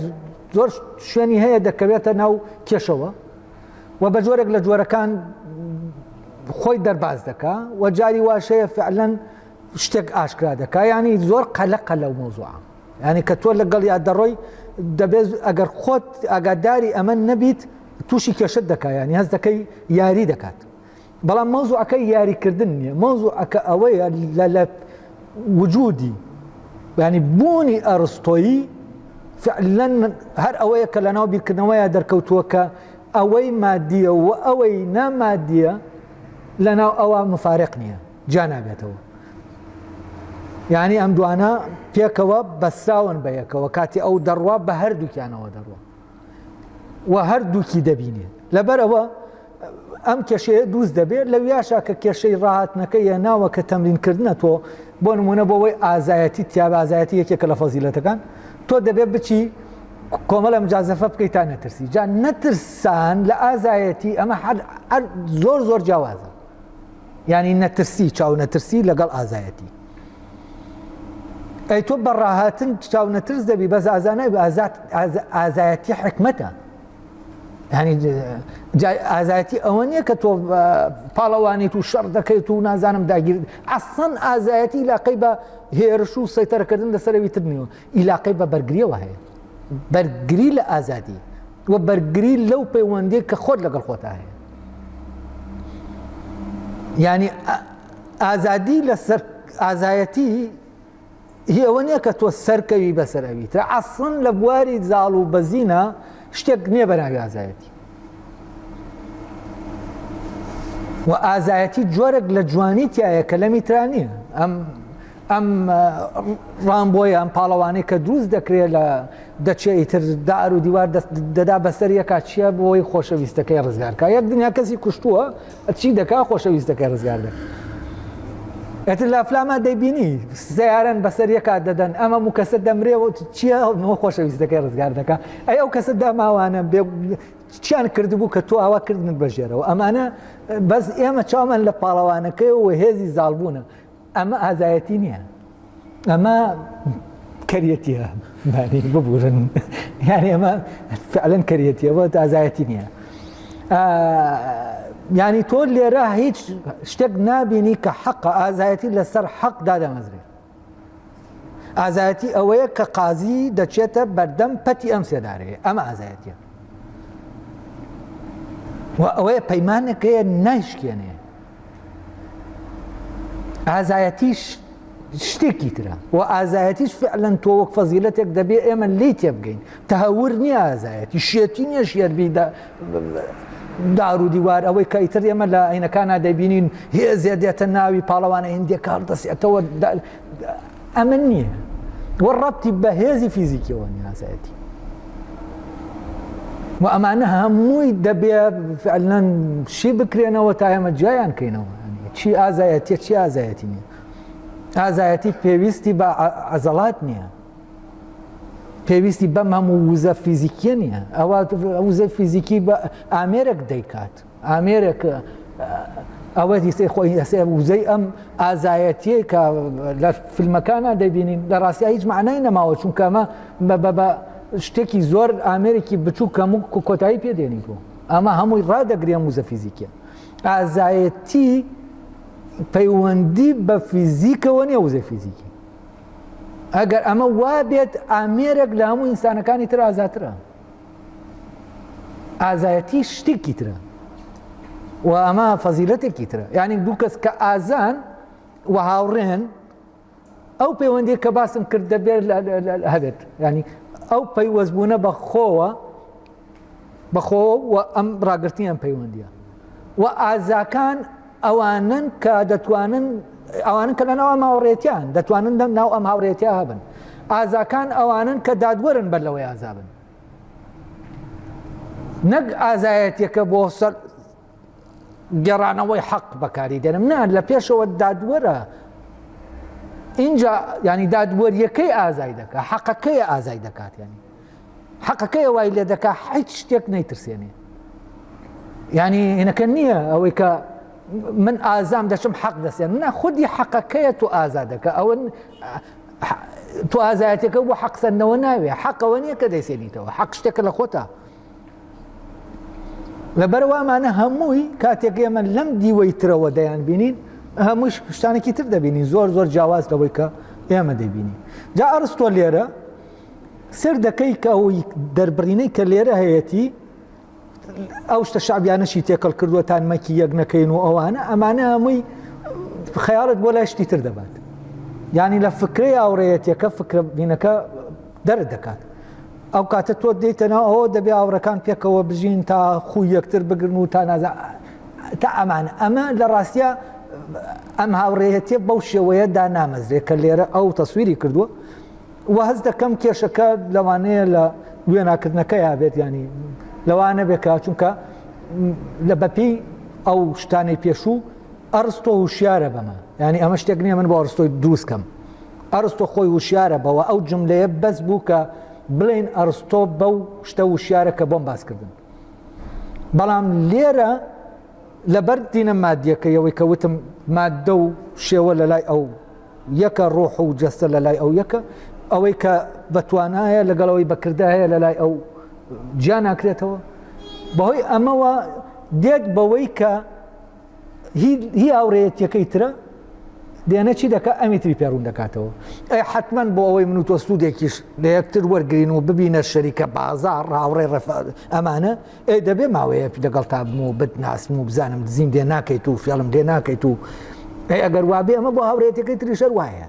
زۆر شوێنی هەیە دەکەوێتە ناو کێشەوە و بە جۆرێک لە جۆرەکان خۆی دەرباز دەکا و جاری واشەیە فعلەن شتێک ئاشکرا دەکا ینی زۆر قەلە قەلە و مۆزوع ینی کە تۆ لەگەڵ یا دەڕۆی دەبێت ئەگەر خۆت ئاگاداری ئەمە نەبیت تووشی کێشت دەکایانی هەست دەکەی یاری دەکات بەڵام مەوزوعەکە یاریکردن نییە، مەوزوعەکە ئەوەیە لە لە وجودی ینی بوونی ئەرستۆیی فعلەن هەر ئەوەیە کە لەناو بیرکردنەوەیە دەرکەوتووە کە ئەوەی مادیە و ئەوەی نامادیە لەناو ئەوە مفارق نییە جا نابێتەوە یعنی ئەم دوانە پێکەوە بەسراون بە یەکەوە کاتی ئەو دەڕوا بە هەردووکیانەوە دەڕوە و هەردووکی دەبینێ لەبەرەوە ئەم کێشەیە دروست دەبێت لە ویاشا کە کێشەی ڕاهاتنەکە یە ناوە کە تەمرینکردە تۆ بۆ نمونە بۆەوەی ئازایەتی تیاب ئازایەتی یەکێکە لە فەزیلەتەکان تۆ دەبێت بچی کۆمەڵە مجازەفە بکەی تا نەترسی جا نەترسان لە ئازایەتی ئەمە زۆر زۆر جیاوازە یانی نەترسی چاونەترسی لەگەڵ ئازایەتی ئەی تۆ بەڕاهاتن چاونەترس دەبی بەس ئازانای ئازاد ئازایەتی حکمەتە ینی ئازایەتی ئەوە نییە کە تۆ پاڵەوانیت و شەڕ دەکەیت و نازانم داگیر ئەسەن ئازایەتی لاقەی بە هێرش و سەیتەرەکردن لەسەروی ترنیەوە ئیلاقەی بە بەرگریەوە هەیە بەرگری لە ئازادی و بەرگری لەو پەیوەندی کە خۆت لەگەڵ خۆتا هەیە ینی ئازادی لەسەر ئازایەتی هی ئەوە نییە کە تۆ سەرکەوی بەسەر ئەوی ترە ئەسڵن لە بواری زاڵ و بەزینە شتێک نییە بەناوی ئازایەتی و ئازایەتی جۆرێک لە جوانی تایە کە لە میترانیە ئەم ئەم ڕامبۆیە ئەم پاڵەوانی کە دروست دەکرێت لە دەچێ ئیتر دار و دیوار دەدا بەسەر یەکا چییە بۆی خۆشەویستەکەی ڕزگارکە یەک دنیا کەسی کوشتووە چی دەکا خۆشەویستەکەی ڕزگار دەکە ئەتر لە فلاما دەیبینی سیارن بەسەر یەکا دەدەن ئەمە و کەسە دەمرێ و چییە نەوە خۆشەویستەکەی ڕزگار دەکە ئەی ئەو کەسە داماوانە چیان کردبوو کە تۆ ئاوا کردن بەژێرەوە ئەمانە بەس ئێمە چامان لە پاڵەوانەکەی و هێزی زالبوونە ئەمە ئازایەتی نییە ئەمە کەریەتیە ببورن یان ئەمە فعلەن کەریەتیەوە ئازایەتی نییە ینی تۆ لێرە هیچ شتێک نبینی کە حەقە ئازایەتی لەسەر حەق دادەمەزرێت ئازایەتی ئەوەیە کە قازی دەچێتە بەردەم پەتی ئەم سێدارەیە ئەمە ئازایەتە و ئەوەیە پەیمانەکەیە نایشکێنێ ئازایەتیش شتێکی ترە و ئازایەتیش فعلەن تۆ وەک فەزیلەتێک دەبێ ئێمە لی تێبگەین تەهور نییە ئازایەتی شێتی نییە شێربیدا دار و دیوار ئەوەی کە ئیتر ئێمە لە عینەکانە دەبینین هێزێ دێتە ناوی پاڵەوانە هندێکار دەسێتەوە ئەمن نییە وە ڕەتی بە هێزی فیزیکیەوە نیازایەتی و ئەمانە هەمووی دەبێ فعلەن شی بکرێنەوە تا ئێمە جیایان کەینەوە چی ئازایەتە چی ئازایەتی نیە ئازایەتی پێویستی بە عەزەڵات نییە پێویستی بەم هەموو وزە فیزیکیە نییە ئەوە وزە فیزیکی بە ئامێرەك دەیکات ئامێرێک ئەوە دیسەی خۆی ئەسێ وزەی ئەم ئازایەتیەی کە لە فیلمەکانە دەبینین لە ڕاستیا هیچ معنای نەماوە چونکەمە بە شتێکی زۆر ئامێرێکی بچوو کەم و کۆتایی پێدێنی بوو ئەمە هەمووی ڕدەگرێ موزە فیزیکە ئازایەتی پەیوەندی بە فیزیکەوە نیە وزە فیزیکی ئەگەر ئەمە وا بێت ئامێرێک لە هەموو ئینسانەکانی تر ئازاترە ئازایەتی شتێکی ترە و ئەمە فەزیلەتێکی ترە یعنی دوو کەس کە ئازان و هاوڕێن ئەو پەیوەندی کە باسم کرد دەبێت هەبێت ینی ئەو پەیوەستبوونە بە خۆوە بەخۆ و ئەم ڕاگررتی ئەم پەیوەندیە و ئازاکان ئەوانەن کە دەتوانن ئەوانن کە لە ناو ئەم هاوڕێتیان دەتوانن دەم ناو ئەم هاوڕێتیا هەبن ئازاکان ئەوانن کە دادوەرن بەر لەوەی ئازابن نەک ئازایەتەکە بۆ سەر گەڕانەوەی حەق بەکاری دەرم نان لە پێشەوە دادوەرە اینجا ینی دادوەریەکەی ئازای دەکات حەقەکەی ئازای دەکات ینی حەقەکەیە وای لێ دەکا حیچ شتێک نەیترسێنێ ینی هینەکە نییە ئەوەی کە من ئازام دەچم حەق دەسێن نە خودی حەقەکەیە تو ئازادەکە ئەوە تو ئازایەتەکە بۆ حەقسەندنەوە ناوێ حەقەوە نییە کە دەیسێنیتەوە حەق شتێکە لە خۆتا لەبەروامانە هەمووی کاتێک ئێمە لەم دیوەی ترەوە دەیان بینین هەمووش شتانێکی تر دەبینین زۆر زۆر جیاواز لەوەی کە ئێمە دەبینین جا ئەرستۆ لێرە سەیر دەکەی کە ئەوی دەربڕینەی کە لێرە هەیەتی ئەو شتە شعبیانەشی تێکەڵ کردوەتان مەکی یەک نەکەین و ئەوانە ئەمانە هەمووی خەیاڵت بۆ لای شتی تر دەبات ینی لە فکری ئاوڕەیەتەکە فکرە بینەکە دەرت دەکات ئەو کاتە تۆ دیتەنا ئەوە دەبێ ئاوڕەکان پێکەوە بژین تا خوی یەکتر بگرن و تا نازە تا ئەمان ئەمە لە ڕاستە ئەم هاوڕێەتە بەو شێوەیەدا نامەزرێ کە لێرە ئەو تەسویری کردووە وە هەست دەکەم کێشەکە لەوانەیە لە وێناکردنەکەیا بێت ینی لەوا نەبێکە چونکە لە بەپی ئەو شتانەی پێشوو ئەرستۆ هوشیارە بەمە ینی ئەمە شتێک نیە من بۆ ئەرستۆی دروستکەم ئەرستۆ خۆی وشیارە بەوە ئەو جملەیە بەس بوو کە بڵێن ئەرستۆ بەو شتە وشیارە کە بۆم باسکردن بەڵام لێرە لەبەر دینە مادیەکەیەوەی کە وتم مادە و شێوە لە لای ئەو یەکە ڕۆح و جەستە لە لای ئەو یەکە ئەوەی کە بەتوانایە لەگەڵەوەی بەکردا هەیە لە لای ئەو جیا ناکرێتەوە بەهۆی ئەمەوە دێت بەوەی کە هی هاوڕێتیەکەی ترە دێنە چی دەکە ئەمی تری پێڕون دەکاتەوە ئەی حتمما بۆ ئەوەی من و تۆ سوودێکیش لە یەکتر وەرگین و ببینە شەریکە بازار ڕاوڕێ ڕفاد ئەمانە ئێ دەبێ ماوەیەک دەگەڵتا بم و بتناسم و بزانم دزیم دێ ناکەیت و فێڵم دێ ناکەیت و ئەی ئەگەر وابێ ئەمە بۆ هاورێتەکەی تریشەر وایە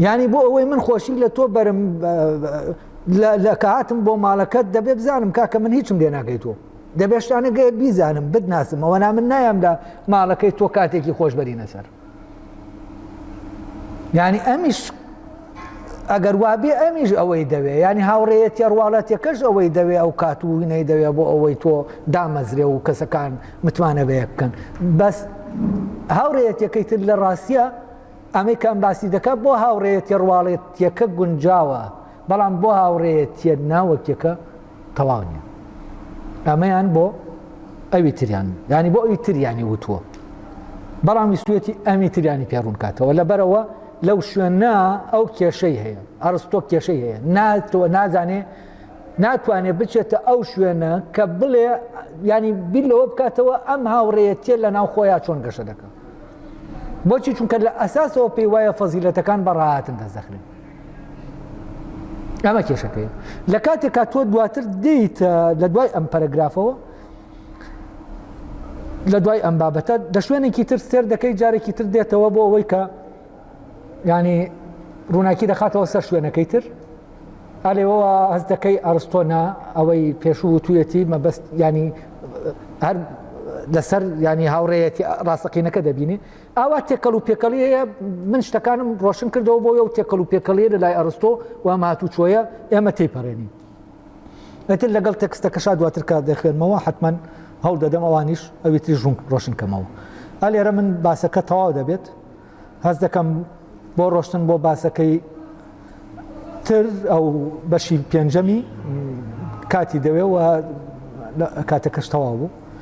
ینی بۆ ئەوەی من خۆشی لە تۆ بەرم لە کاتم بۆ ماڵەکەت دەبێ بزانم کاکە من هیچم لێ ناکەیت تۆ دەبێشتانە گەێت بیزانم بتناسم ئەوە نا من نایامدا ماڵەکەی تۆ کاتێکی خۆشببەرینە سەر یعنی ئەمیش ئەگەر وابێ ئەمیش ئەوەی دەوێ ینی هاوڕێەتی ڕواڵەتەکەش ئەوەی دەوێ ئەو کات و وینەی دەوێ بۆ ئەوەی تۆ دامەزرێ و کەسەکان متمانە بەیە بکەن بەس هاوڕێەتەکەی تر لە ڕاستە ئەمەی کەم باسی دەکات بۆ هاوڕێەتی ڕواڵێتیەکە گونجاوە بەڵام بۆ هاوڕێیەتیە ناوەکیەکە تەواو نیە ئەمەیان بۆ ئەوی تریان ینی بۆ ئەوی تریانی وتووە بەڵام ویستوێتی ئەمی تریانی پێڕون کاتەوە لەبەرەوە لەو شوێنە ئەو کێشەی هەیە ئەرستۆ کێشەی هەیە ناتەوە نازانێ ناتوانێ بچێتە ئەو شوێنە کە بڵێ ینی بیر لەوە بکاتەوە ئەم هاوڕێتیە لە ناو خۆیان چۆن گەشە دەکە بۆچی چونکە لە ئەساسەوە پێی وایە فەزیلەتەکان بەڕاهاتن دەزەخرێن ئەمە کێشەکەی لە کاتێکا تۆ دواتر دیت لە دوای ئەم پەرەگرافەوە لە دوای ئەم بابەتە دە شوێنێکی تر سێر دەکەی جارێکی تر دێتەوە بۆ ئەوەی کە ینی ڕووناکی دەخاتەوە سەر شوێنەکەی تر ئالێەوە هەز دەکەی ئەرستۆنا ئەوەی پێشوو و توێتی مەبەست ینی هەر لەسەر ینی هاوڕێەتی ڕاستەقینەکە دەبینێ ئاوا تێکەڵ و پێکەڵی هەیە من شتەکانم ڕۆشن کردەوە بۆ و تێکەڵ و پێکەڵیە لە لای ئەرستۆ و ماتوو چۆیە ئێمە تێپەڕێنین ئەتر لەگەڵ تەکستەکەشا دواتر کار دەخوێنمەوە حتمما هەڵ دەدەم ئەوانیش ئەویتری ژون ڕۆشنکەمەوە ئەلێرە من باسەکە تەواو دەبێت هەز دەکەم بۆ ڕۆشتن بۆ باسەکەی تر ئەو بەشی پێنجەمی کاتی دەوێ و کاتەکەش تەواو بوو